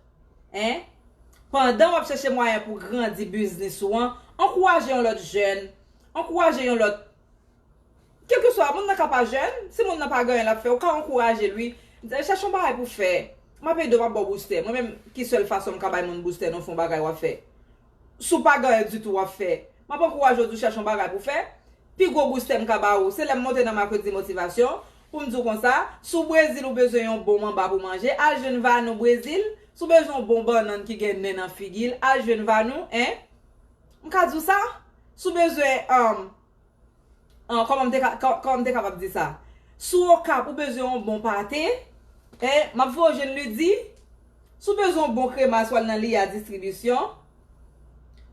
Hein? Pandan wap chèche mwayen pou grandi biznis ou an, ankouraje yon lòt jèn, ankouraje yon lòt Kelkeswa, moun nan ka pa jèn, si moun nan pa gen anyen lap fè, ou ka ankouraje l wi. Chèche yon bagay pou fè. Map ede w, map ba w boustè. Mwen menm ki sèl fason m ka bay moun boustè nan fon bagay wap fè? Si w pa ganyen ditou w ap fè, m ap ankouraje w di w chèche yon bagay pou w fè. Pi gwo boustè m ka ba ou, se lè m monte nan Makredi Motivasyon, pou m di w konsa. Si w Brezil ou bezwen yon bon manba pou manje, al jwenn Vanou Brezil. Si w bezwen yon bon bannann ki gen nen nan figi l, al jwenn Vanou, 1. M ka di w sa? Si w bezwen. An, kòman m te ka, kòman m te kapab di sa? Si w Okap, ou bezwen yon bon pate, e, m ap fè w jwenn Lydie. Si w bezwen yon bon kremas, w al nan Lia Distribisyon.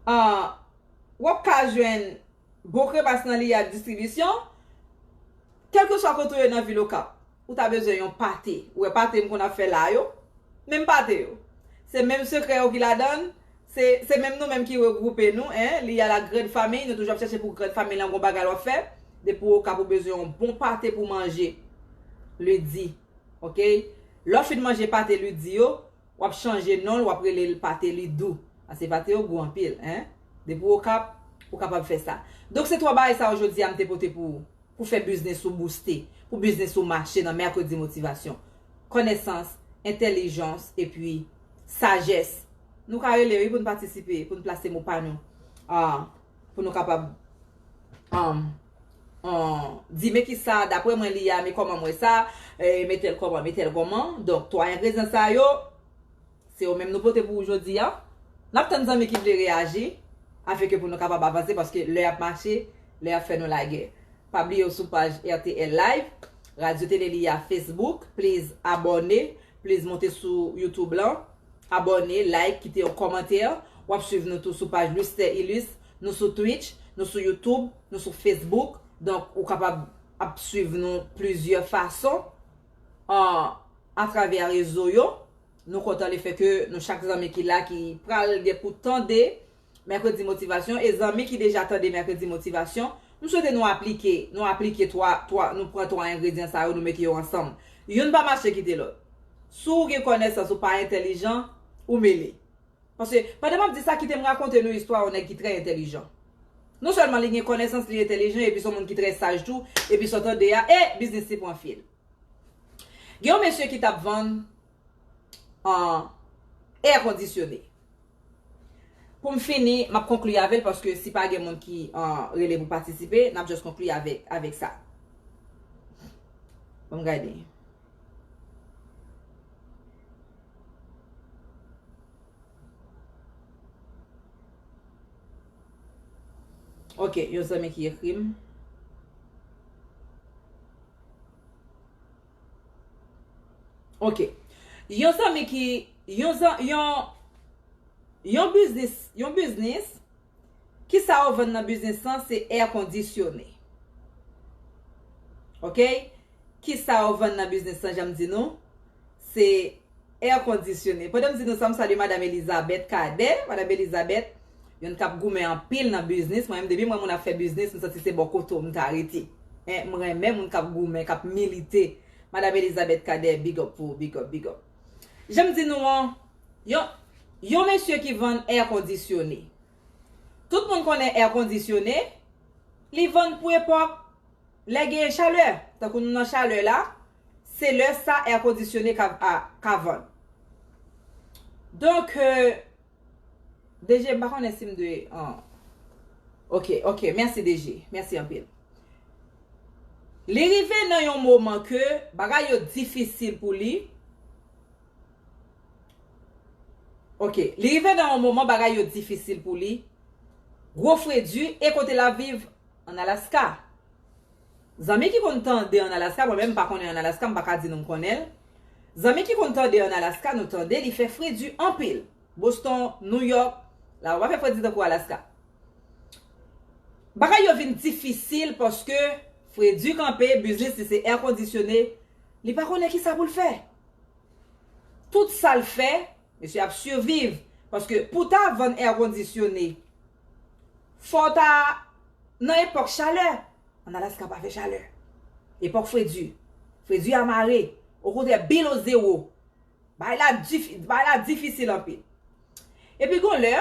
An, w ap ka jwenn bon kremas nan Lia Distribisyon. Kèlkeswa kote w ye nan vil Okap, ou ta bezwen yon pate. Ou wè pate m konn ap fè la yo? Menm pate yo. Se menm sekrè yo ki ladan l. Se menm nou menm ki regroupe nou en li a la grand famille nou toujou ap chache pou grand famille lan gon bagay wap fè depi ou okap ou bezwen yon bon pate pou manje li di ok lè w fin manje pate li di yo wap chanje non l wap rele l pate li dou paske pate yo gou anpil en depi ou okap ou kapab fè sa donk se 3 bagay sa yo jodi a m te pote pou ou pou fè biznis ou bouste pou biznis ou mache nan mercredi motivation konesans entelijans epi Sajès. Nou ka rele wi pou n patisipe, pou n plase mo pa nou. Pou nou kapab di men ki sa, dapre mwen li a, men kòman m wè sa, men tèl kòman, men tèl kòman. Donk, 3 engredyan sa yo, se yo menm nou pote pou ou jodi a. N ap tann zanmi ki vle reyaji, afin ke pou nou kapab avanse, paske lè ap mache, lè ap fè nou lagè. Pa bliye ou sou paj RTL Live, Radyo Tele Li a Facebook, please abòne, Please monte sou YouTube lan, abòne, like, kite yon kòmantè. Wap swiv nou tou sou paj Luster Ilus. Nou sou Twitch, nou sou YouTube, nou sou Facebook. Donk ou kapab ap swiv nou plizyè fason atravè rezo yo. Nou kontan lefè ke nou chak zanmi ki la ki pral gen pou tande Mèkredi Motivasyon e zanmi ki deja tande Mèkredi Motivasyon, m swete nou aplike, nou aplike 3, 3, nou pran 3 engredyan sa yo nou mete yo ansanm. Youn pa mache kite lòt. Si w gen kònesans ou pa entèlijan, ou mele. Paske, pandan m ap di sa kite m rakonte nou istwa yon nèg ki trè entèlijan. Non sèlman li gen kònesans, li entèlijan epi s on moun ki trè saj tou, epi sa w tande a, e! biznis li pran fil. Gen yon mesye ki t ap vann Air kondisyone. Pou m fini, m ap konkli avè l paske si pa gen moun ki rele pou patisipe, n ap just konkli avèk sa. Bon m gade. Ok, yon zanmi ki ekri m. Ok Yon zanmi ki Yon zanmi Yon Yon biznis Yon biznis Kisa ou vann nan biznis lan se air kondisyone Ok Kisa ou vann nan biznis lan janm di nou se Air conditionné. Pandan m di nou sa, m salye Madam Elizabeth Cadet. Madam Elizabeth, youn k ap goumen anpil nan biznis. Mwen menm, depi m wè moun ap fè biznis, m santi se bò kote w m ta rete. Men, m renmen moun k ap goumen, k ap milite. Madam Elizabeth Cadet, big up pou ou, big up, big up. Jan m di nou an, yon, yon mesye ki vann air conditionné. Tout moun konnen air conditionné, li vann pou epòk lè gen chalè. Tankou nou nan chalè la, se lè sa air conditionné ka ka vann. Donk DG m pa konnen si m dwe Ok ok mèsi DG mèsi anpil. Li rive nan yon moman ke bagay yo difisil pou li Ok li rive nan yon moman bagay yo difisil pou li gwo fredi e kote l ap viv an Alaska. Zanmi ki konn tande an Alaska mwen menm m pa konnen an Alaska m pa ka di nou m konnen l Zanmi ki konn tande an Alaska nou tande li fè fredi anpil Boston New York la ba pa fè fredi tankou Alaska Bagay yo vin difisil paske fredi kanpe biznis li se èkondisyone li pa konnen kisa pou l fè Tout sa l fè Mesye ap surviv paske pou ta vann airconditionne fòw ta nan epòk chalè an Alaska pa fè chalè epòk fredi fredi a mare okontrè bill o zero bagay la di bagay la difisil anpil epi gon lè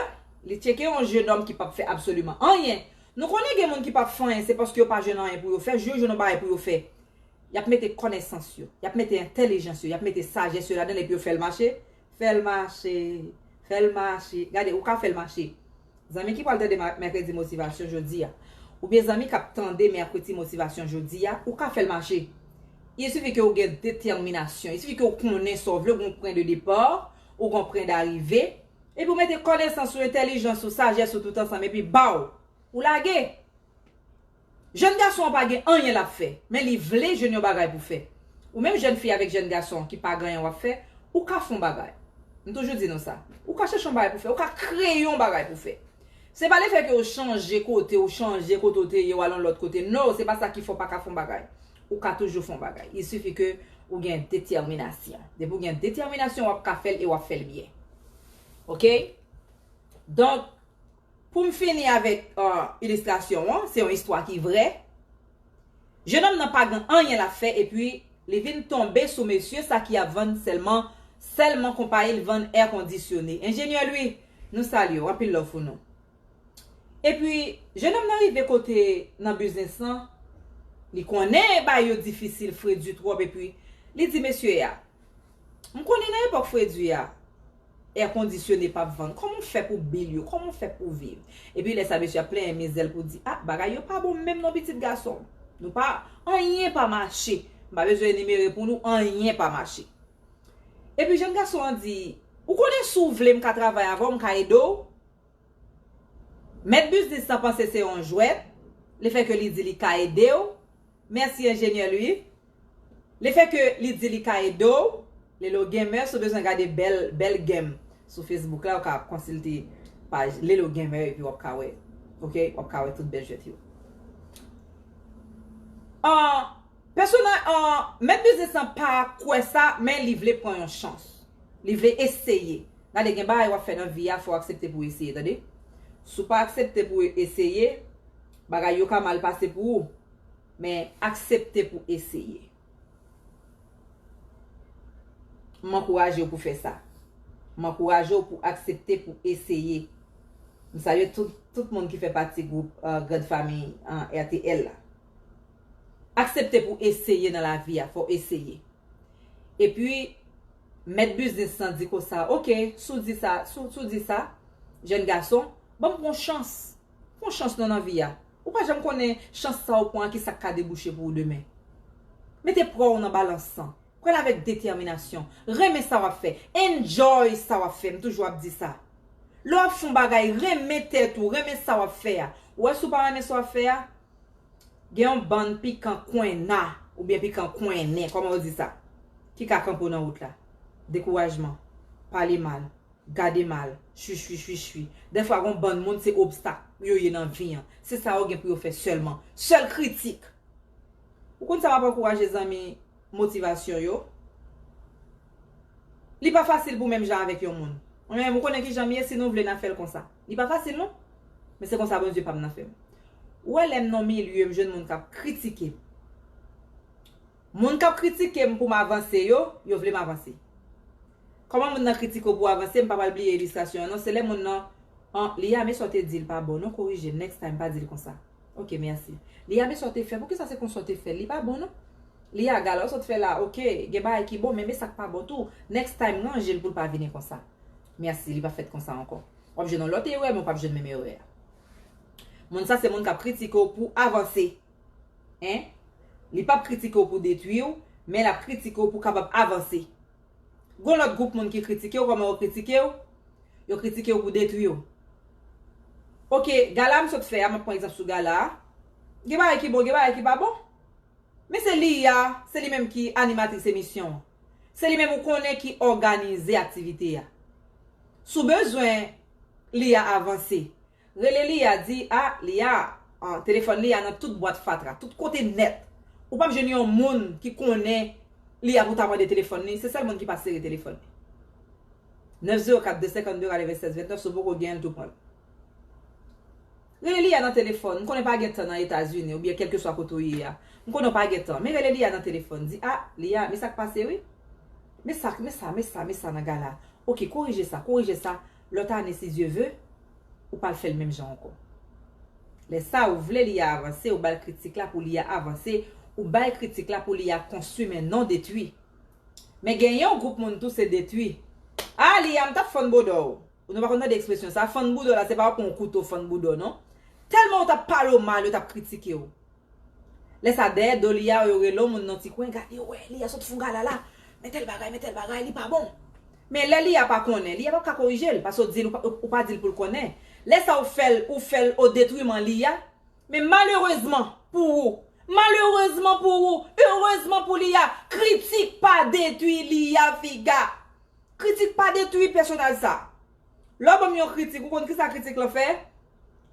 li tcheke yon jenòm ki pap fè absoliman anyen nou konnen gen moun ki pap fè anyen se paske yo pa jwenn anyen pou yo fè jou yo jwenn yon bagay pou yo fè y ap mete kònesans yo, y ap mete entèlijans yo, y ap mete sajès yo ladan l epi yo fè l mache, fè l mache, fè l mache. Gade, ou ka fè l mache. Zanmi ki pral tande Mèkredi Motivasyon jodi a, oubyen zanmi k ap tande Mèkreti Motivasyon jodi a, ou ka fè l mache. Il sifi ke ou gen detèminasyon. Il sifi ke ou konnen sa w vle, ou gen yon pwen de depa, ou gen yon pwen darive, epi ou mete kònesans ou, entèlijans ou, sajès ou tout ansanm epi baw! Ou lage! Jèn gason an pa gen anyen lap fè, men li vle jwenn yon bagay pou fè. Ou menm jèn fi avèk jèn gason ki pa gen anyen wap fè, ou ka fon bagay. M toujou di nou sa. Ou ka chèche yon bagay pou fè, ou ka kreye yon bagay pou fè. Se pa lefè ke ou chanje kote ou chanje kote ou te ye ou al yon lòt kote no, se pa sa ki fè ou pa ka fon bagay. Ou ka toujou fon bagay. Il suffit ke ou gen detèminasyon. Depi ou gen detèminasyon wap ka fèl e wap fèl byen. Ok? Donk. Pou m fini avèk ilistrasyon an, se yon istwa ki vrè. Jenòm nan pa gen anyen l ap fè epi li vin tonbe sou mesye sa ki ap vann sèlman sèlman konpayi l vann èkondisyone. Enjenyè Lwi, nou salye w, anpil love pou nou. Epi, jenòm nan rive kote nan biznis lan, li konnen bagay yo difisil, fredi twòp epi li di mesye a, M konnen nan epòk fredi a, Air conditionné pap vann. Koman w fè pou bil yo? Koman w fè pou w viv? Epi lè sa mesye ap plenyen mizè l pou l di, ah bagay yo pa bon menm non pitit gason m. Nou pa, anyen pa mache. M pa bezwen enimere pou nou, anyen pa mache. Epi jèn gason an di, ou konnen si w vle m ka travay avè w, m ka ede w? Mèt biznis lan panse se yon jwèt, lefèke li di li ka ede w, merci ingénieur Louis. Le fait que li di li ka ede w, Lelo Gamer si w bezwen gade bèl bèl game sou Facebook la ou ka konsilte paj Lelo Gamer epi wap ka wè ok wap ka wè tout bèl jwèt yo. Ahh Personaj ahh mèt biznis lan pa kwè sa men li vle pran yon chans. Li vle eseye. Gade gen bagay wap fè nan vi a fò w aksepte pou w eseye tande. Si w pa aksepte pou w eseye bagay yo ka mal pase pou ou. Men aksepte pou eseye. M ankouraje w pou fè sa. M ankouraje w pou aksepte pou eseye. M salye tout moun ki fè pati gwoup Grand Famille RTL la. Aksepte pou eseye nan lavi a, fò w eseye. E pi, mèt biznis lan di konsa, ok, si w di sa, si w di sa, jèn gason, ban m pran yon chans. Pwan chans non nan vi a. Ou pa janm konnen chans sa ou pwan an kisak ka debouche pou ou demen. Mete pwa ou nan balans lan. Pranl avèk detèminasyon. Renmen sa wap fè. Enjoy sa wap fè. M toujou ap di sa. Lè wap fon bagay renmen tèt ou, renmen sa wap fè a. Ou wè si ou pa renmen sa wap fè a, gen yon bann pikan kwenna oubyen pikan kwennen, kòman yo di sa? Ki ka kanpe ou nan wout la. Dekourajman. Pale mal. Gade mal. Shuishuishuishui. Dèfwa gon bann moun se obstak yo ye nan vi an. Se sa yo gen pou yo fè sèlman. Sèl kritik! Ou konn sa map ankouraje zanmi motivasyon yo? Li pa fasil pou menm jan avèk yon moun. Mwen menm ou konnen kijanm ye si nou vle na fèl konsa. Li pa fasil non. Men se konsa Bondye pam nan fèm. Ou wè lèm nan yon milye m jwenn moun kap kritikem. Moun kap kritikem poum avanse yo, yo vlem avanse. Kòman moun nan kritike w pou avanse m pa pral bliye illustration an non se lè moun nan an Liya men sa w te di l pa bon non korije l next time pa di l konsa ok merci Liya men sa w te fè poukisa se konsa w te fè l li pa bon non Liya gala w sot fè la ok gen bagay ki bon men men sa k pa bon tou next time ranje l pou l pa vini konsa merci li pa fèt konsa ankò w ap jwenn yon lòt erè men w p ap jwenn menm erè a moun sa se moun k ap kritike w pou avanse hein li p ap kritike w pou detwi w men l ap kritike w pou kapab avanse Gon lòt gwoup moun ki kritike w kòman yo kritike w yo kritike w pou detwi w ok gala m sot fè a m ap pran egzanp sou gala a gen bagay ki bon gen bagay ki pa bon men se li a se li menm ki animatris emisyon an se li menm ou konnen ki òganize aktivite a sou bezwen li a avanse Rele li a di a li a an telefòn li a nan tout bwat fatra tout kote nèt ou pap jwenn yon moun ki konnen li a pou ta mande telefòn li se sèl moun ki pa sere telefòn li 9 0 4 2 52 96 29 si w poko genyen l tou pran l rele li a nan telefòn m konnen pa gen tan nan etazini oubyen kèlkeswa kote ou ye a m konnen w pa gen tan men rele li a nan telefòn di a li a men sak pase wi men sa men sa men sa men sa nan gala ok korije sa korije sa Lòt ane si Dye ve, ou pral fè l menm jan ankò. Lè sa ou vle li a avanse ou ba l kritik la pou li a avanse, ou bay kritik la pou li a konstwi men non detwi. Men gen yon gwoup moun tou se detwi. Ah li a m t ap fann bodò w. Ou nou pa konn tande ekspresyon sa, fann boudò la se pa w pran yon kouto fann boudò non. Tèlman ou t ap pale w mal yo t ap kritike w. Lè sa dèyè do li a yo rele on moun nan ti kwen gade wè li a sot fon galala men tèl bagay men tèl bagay li pa bon men lè li a pa konnen li a pap ka korije l pase w di l ou pa di l pou l konnen lè sa ou fè l ou fè l o detriman li a men malerezman pou ou malerezman pou ou erezman pou li a kritik pa detwi li a figa kritik pa detwi pèsonaj sa lè w ban m yon kritik ou konn kisa kritik lan fè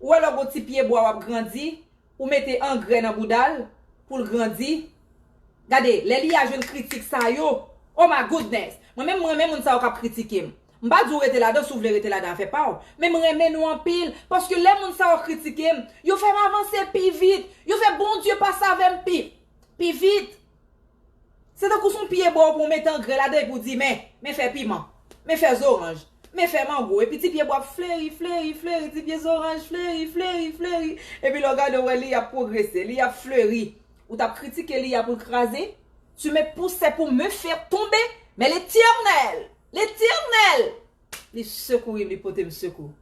ou wè lè w gon ti pye bwa w ap grandi Ou mete angrè nan bouda l pou l grandi Gade lè Lia jwenn kritik sa yo Oh my goodness Mwen menm m renmen moun sa yo k ap kritike m M pa di w rete ladan si w vle rete ladan afè pa w Men m renmen nou anpil Paske lè moun sa yo kritike m Yo fè m avanse pi vit Yo fè Bondye pase avè m pi Pi vit. Se tankou son pye bwa ou pran ou mete angrè ladan epi ou di men, men fè piman, men fè zoranj, men fè mango epi ti pye bwa ap fleri, fleri, fleri, ti pye zoranj fleri, fleri, fleri epi lè w gade ou wè li ap pwogrese, li ap fleri. Ou tap kritike li a pou l kraze? Tu me pousses pour me faire tomber, mais l'Eternel, l'Eternel Li sekourim, li potem sekou.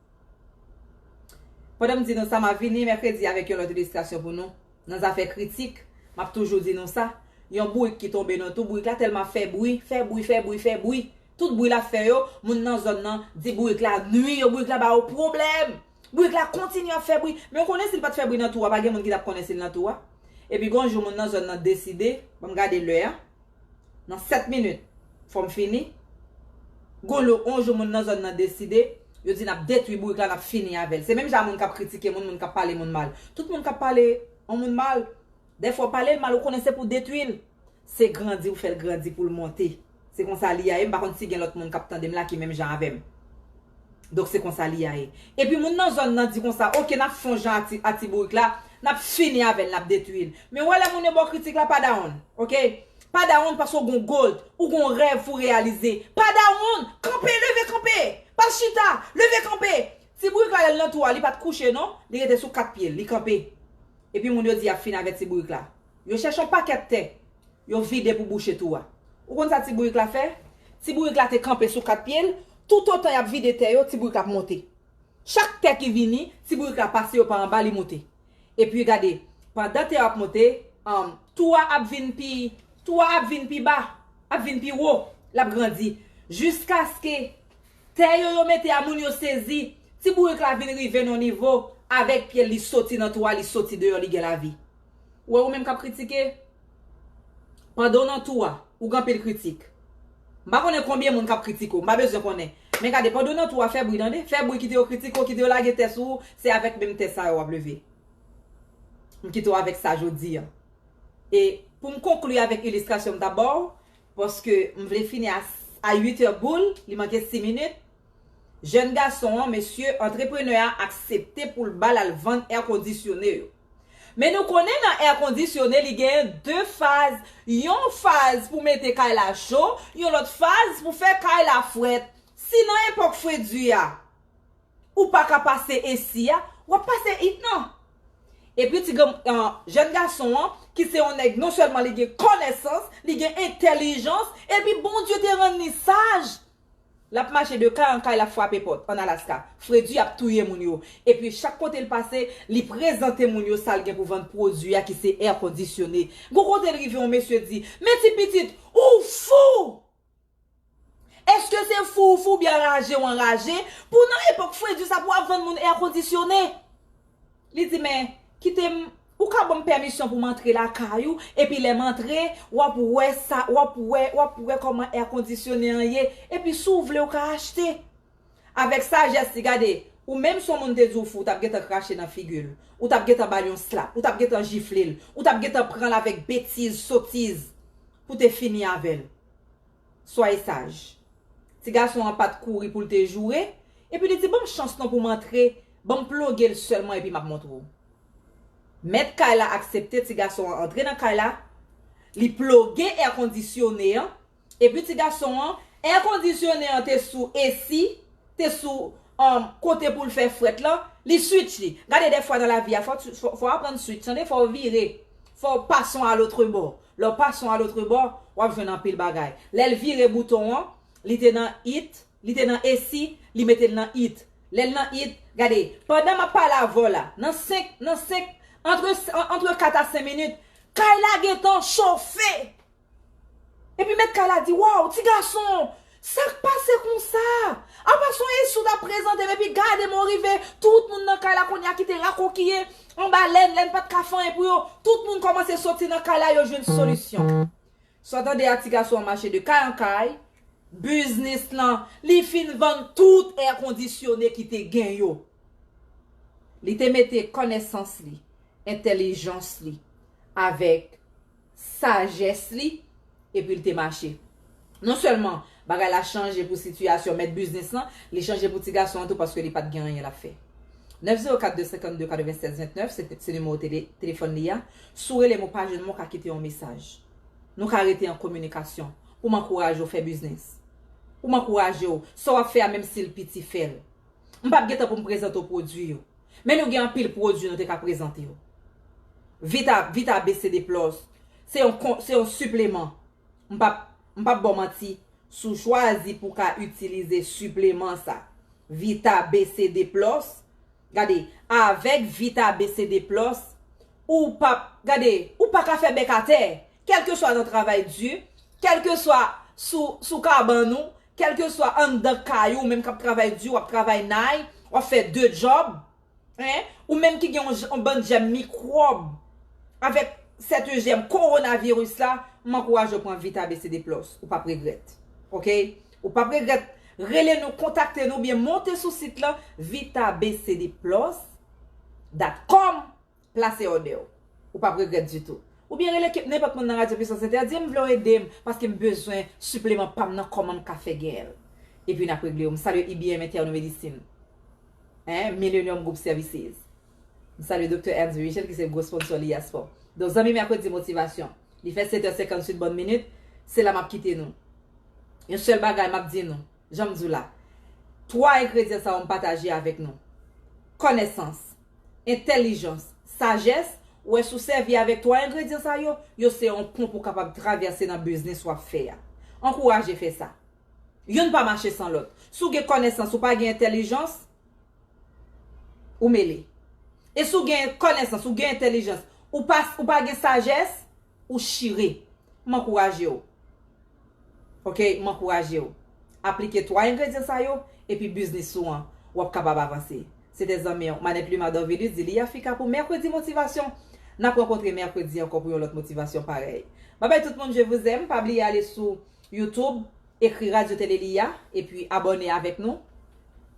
Pandan m di nou sa, m ap vini mèkredi avèk yon lòt ilistrasyon pou nou. Nan zafè kritik, m ap toujou di nou sa, yon bourik ki tonbe nan tou, bourik la tèlman ap fè bri, fè bri, fè bri, fè bri, tout bri l ap fè yo, moun nan zòn nan di bourik la nui yo, bourik la ba yo pwoblèm! Bourik la kontinye ap fè bri. Men ou konnen si l pa t fè bri nan tou a, pa gen moun ki t ap konnen si l nan tou a. Epi gen yon jou moun nan zòn nan deside, ban m gade lè a, nan 7 minit, fò m fini. Gon lè yon jou moun nan zòn nan deside, yo di n ap detwi bourik la, n ap fini avè l. Se menm jan a moun k ap kritike moun, moun k ap pale moun mal. Tout moun k ap pale yon moun mal, dèfwa w pale l mal ou konnen se pou w detwi l. Se grandi ou fèl grandi poul monte. Se konsa li ya ye m pa konn si gen lòt moun kap tandem la ki menm jan avèm. Donk se konsa li ya ye. Epi moun nan zòn nan di konsa ok nap fon jan a ti a ti bourik la nap fini avèl nap detwil. Men wè lè moun yo baw kritik la pa dawonn ok pa dawonn paske ou gon gold ou gon rèv pou reyalize pa dawonn kanpe leve kanpe pa chita leve kanpe ti bourik la lèl nan tou a li pat kouche non li rete sou 4 pyel li kanpe epi moun yo di yap fini avè ti bourik la Yo chèche yon pakèt tè. Yo vide pou bouche tou a. Ou konn sa ti bourik la fè? Ti bourik la te kanpe sou kat pye l, toutotan y ap vide tè yo, ti bourik la ap monte. Chak tè ki vini, ti bourik la pase yo pa anba li monte. Epi gade, pandan tè yo ap monte, an, tou a ap vin pi, tou a ap vin pi ba, ap vin pi wo, l ap grandi. Jiskaske, tè yo yo mete a moun yo sezi, ti bourik la vin rive nan yon nivo, avèk pye l li soti nan tou a, li soti deyò li gen lavi. Ou wè ou menm kap kritike, pandan w nan tou a, ou gen anpil kritik. M pa konnen konbyen moun kap kritike w, m pa bezwen konnen. Men gade, pandan w nan tou a, fè bri tande. Fè bri, kite yo kritike w, kite yo lage tè sou ou, se avèk menm tè sa yo w ap leve. M kite w avèk sa jodi a. E, pou m konkli avèk ilistrasyon m ta ba w, paske m vle fini a 8 è boul, li manke 6 minit, Jèn gason an, mesye, antreprenè a aksepte pou l ba l al vann èkondisyone yo. Men nou konnen nan air conditionne li gen 2 faz yon faz pou mete kay la cho yon lòt faz pou fè kay la frèt si nan epòk fredi a ou paka pase AC a wap pase heat nan epi ti jèn gason an ki se yon nèg non sèlman li gen kònèsans li gen entèlijans epi Bondye te rann li saj Lap mache de kay an kay lap fwape pòt an Alaska. Fredi ap touye moun yo. Epi chak kote l pase, li prezante moun yo sa l gen pou vann pwodui a ki se è kondisyone. Gon kote l rive yon mesye di, Men ti pitit, ou fou! Eske se fou ou fou oubyen anraje ou anraje pou nan epòk Fredi sa pou w ap vann moun è kondisyone? Li di, Men, kite m, ou ka ban m pèmisyon pou m antre lakay ou, epi lè m antre, w ap wè sa, w ap wè, w ap wè kòman èkondisyonnen an ye, epi si w vle ou ka achte. Avèk sajès li, gade, ou menm si yon moun te di w fou, ou t ap gentan krache nan figi l, ou t ap gentan ba l yon slap, ou t ap gentan jifle l, ou t ap gentan pran l avèk betiz, sotiz, pou w te fini avè l. Soyez sage. Ti gason an pat kouri poul te joure, epi li di banm chans non pou m antre, banm ploge l sèlman epi map montre w. Mèt kay la aksepte ti gason an antre nan kay la, li ploge è kondisyone an, epi ti gason an, è kondisyone an te sou esi, te sou um kote poul fè frèt lan li switch li gade dèfwa nan lavi a fò fò aprann switch tande fò vire fò passons à l'autre bord lèw passons à l'autre bord wap jwenn anpil bagay lèl vire bouton an li te nan it li te nan esi li metel nan it lèl nan it gade pandan map pale avèw la nan 5 nan 5 entre entre 4 a 5 minit kay la gentan chofe! Epi mèt kay la di, Waw, ti gason, sa k pase konsa? Apa son Esou t ap prezante m epi gade mwen rive, tout moun nan kay la kounye a ki te rakokiye anba lenn, lenn pa t ka fanyen pou yo, tout moun kòmanse soti nan kay la yo jwenn solisyon. Sa w tande a ti gason an mache de kay an kay, biznis lan, li fin vann tout èkondisyone ki te gen yo. Li te mete kònesans li, entèlijans li avèk sajès li epi l te mache. Non sèlman bagay la chanje pou sitiyasyon mèt biznis lan, li chanje pou ti gason an tou paske li pa t gen anyen l ap fè. 904 252 96 29 se se nimewo tele telefòn li a, si w rele m ou pa jwenn mwen w ka kite yon mesaj. Nou ka rete an kominikasyon pou m ankouraje w fè biznis, pou m ankouraje w sa w ap fè a menm si l piti fè l. M pap gen tan pou m prezante w pwodui yo. Men nou gen anpil pwodui nou te ka prezante yo. Vita, Vita BCD Plus, se yon kon, se yon sipleman. M pap, m pap ba w manti, si w chwazi pou w ka itilize sipleman sa, Vita BCD Plus, gade, avèk Vita BCD Plus, ou pap, gade, ou pa ka fè bèk atè! Kèlkeswa nan travay di, kèlkeswa sou, sou kabann ou, Kèlkeswa anndan kay ou, ou menm k ap travay di, w ap travay nay, w ap fè de djòb, hein, ou menm ki gen yon bann jèm mikwòb avèk sèten jèm kowonaviris la, m ankouraje w pran Vita BCD Plus. Ou p ap regrèt. Ok? Ou p ap regrèt. Rele nou, kontakte nou oubyen monte sou sit lan, vitabcdplus dot com Plase òdè w. Ou pap regrèt ditou. Oubyen rele kep nenpòt moun nan Radyo Pwisans Entè, di m vle w ede m paske m bezwen sipleman pa m nan kòman m ka fè genyen l. Epi n ap regle yo. M salye IBM Interne Medicine en Millenium Group Services. M salye Doktè Ernst Virgile ki se gwo sponsò li a spò. Donk zanmi Mèkredi Motivasyon, li fè setè senkannswit bòn minit, se la m ap kite nou. Yon sèl bagay m ap di nou, jan m di w la, twa engredyan sa yo m pataje avèk nou, kònèsans, entèlijans, sajès, wè si w sèvi avèk 3 engredyan sa yo, yo se yon pon pou w kapab travèse nan biznis w ap fè a. Ankouraje fè sa. Youn pa mache san lòt. Si w gen kònesans ou pa gen entèlijans, ou mele. E si w gen kònesans ou gen entèlijans, ou pa gen sajès, ou chire. M ankouraje w. Ok m ankourajew aplike 3 engredyan sa yo epi biznis ou an wap kapab avanse se te zanmiw Manette Luma Dorvilus di li Africa pou mèkredi motivasyon nap rankontre mèkredi ankò pou yon lòt motivasyon parèy babay tout moun je vous aime pa bliye ale sou YouTube ekri radio tele Liya epi abòne avèk nou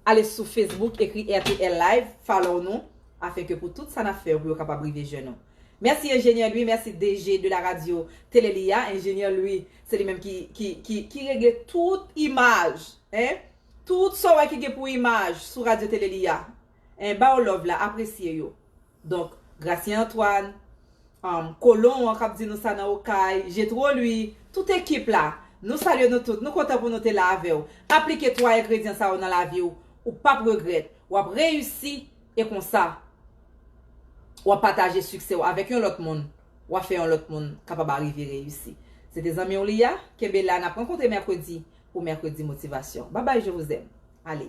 ale sou Facebook ekri rtl live follow nou afenke pou tout sa nap fè yo pou yo kapab rive jwenn nou. Mèsi enjenyè Louis mèsi DG de la radio télé li a enjenyè Louis se li menm ki ki ki ki regle tout imaj hein tout sa w wè ki gen pou imaj sou radio télé li a hein ba w love la apresye yo donk Gracien Antoine humm kolon an kap di nou sa nan okay Jetro Louis tout ekip la nou salye nou tout nou kontan pou nou te la avè w aplike 3 engredyan sa yo nan lavi w ou pap regrèt wap reyisi e konsa. wap pataje siksè w avèk yon lòt moun wap fè yon lòt moun kapab arive reyisi se te zanmi w li ya kenbe la nap rankontre mèkredi pou mèkredi motivasyon babay je vous aime ale.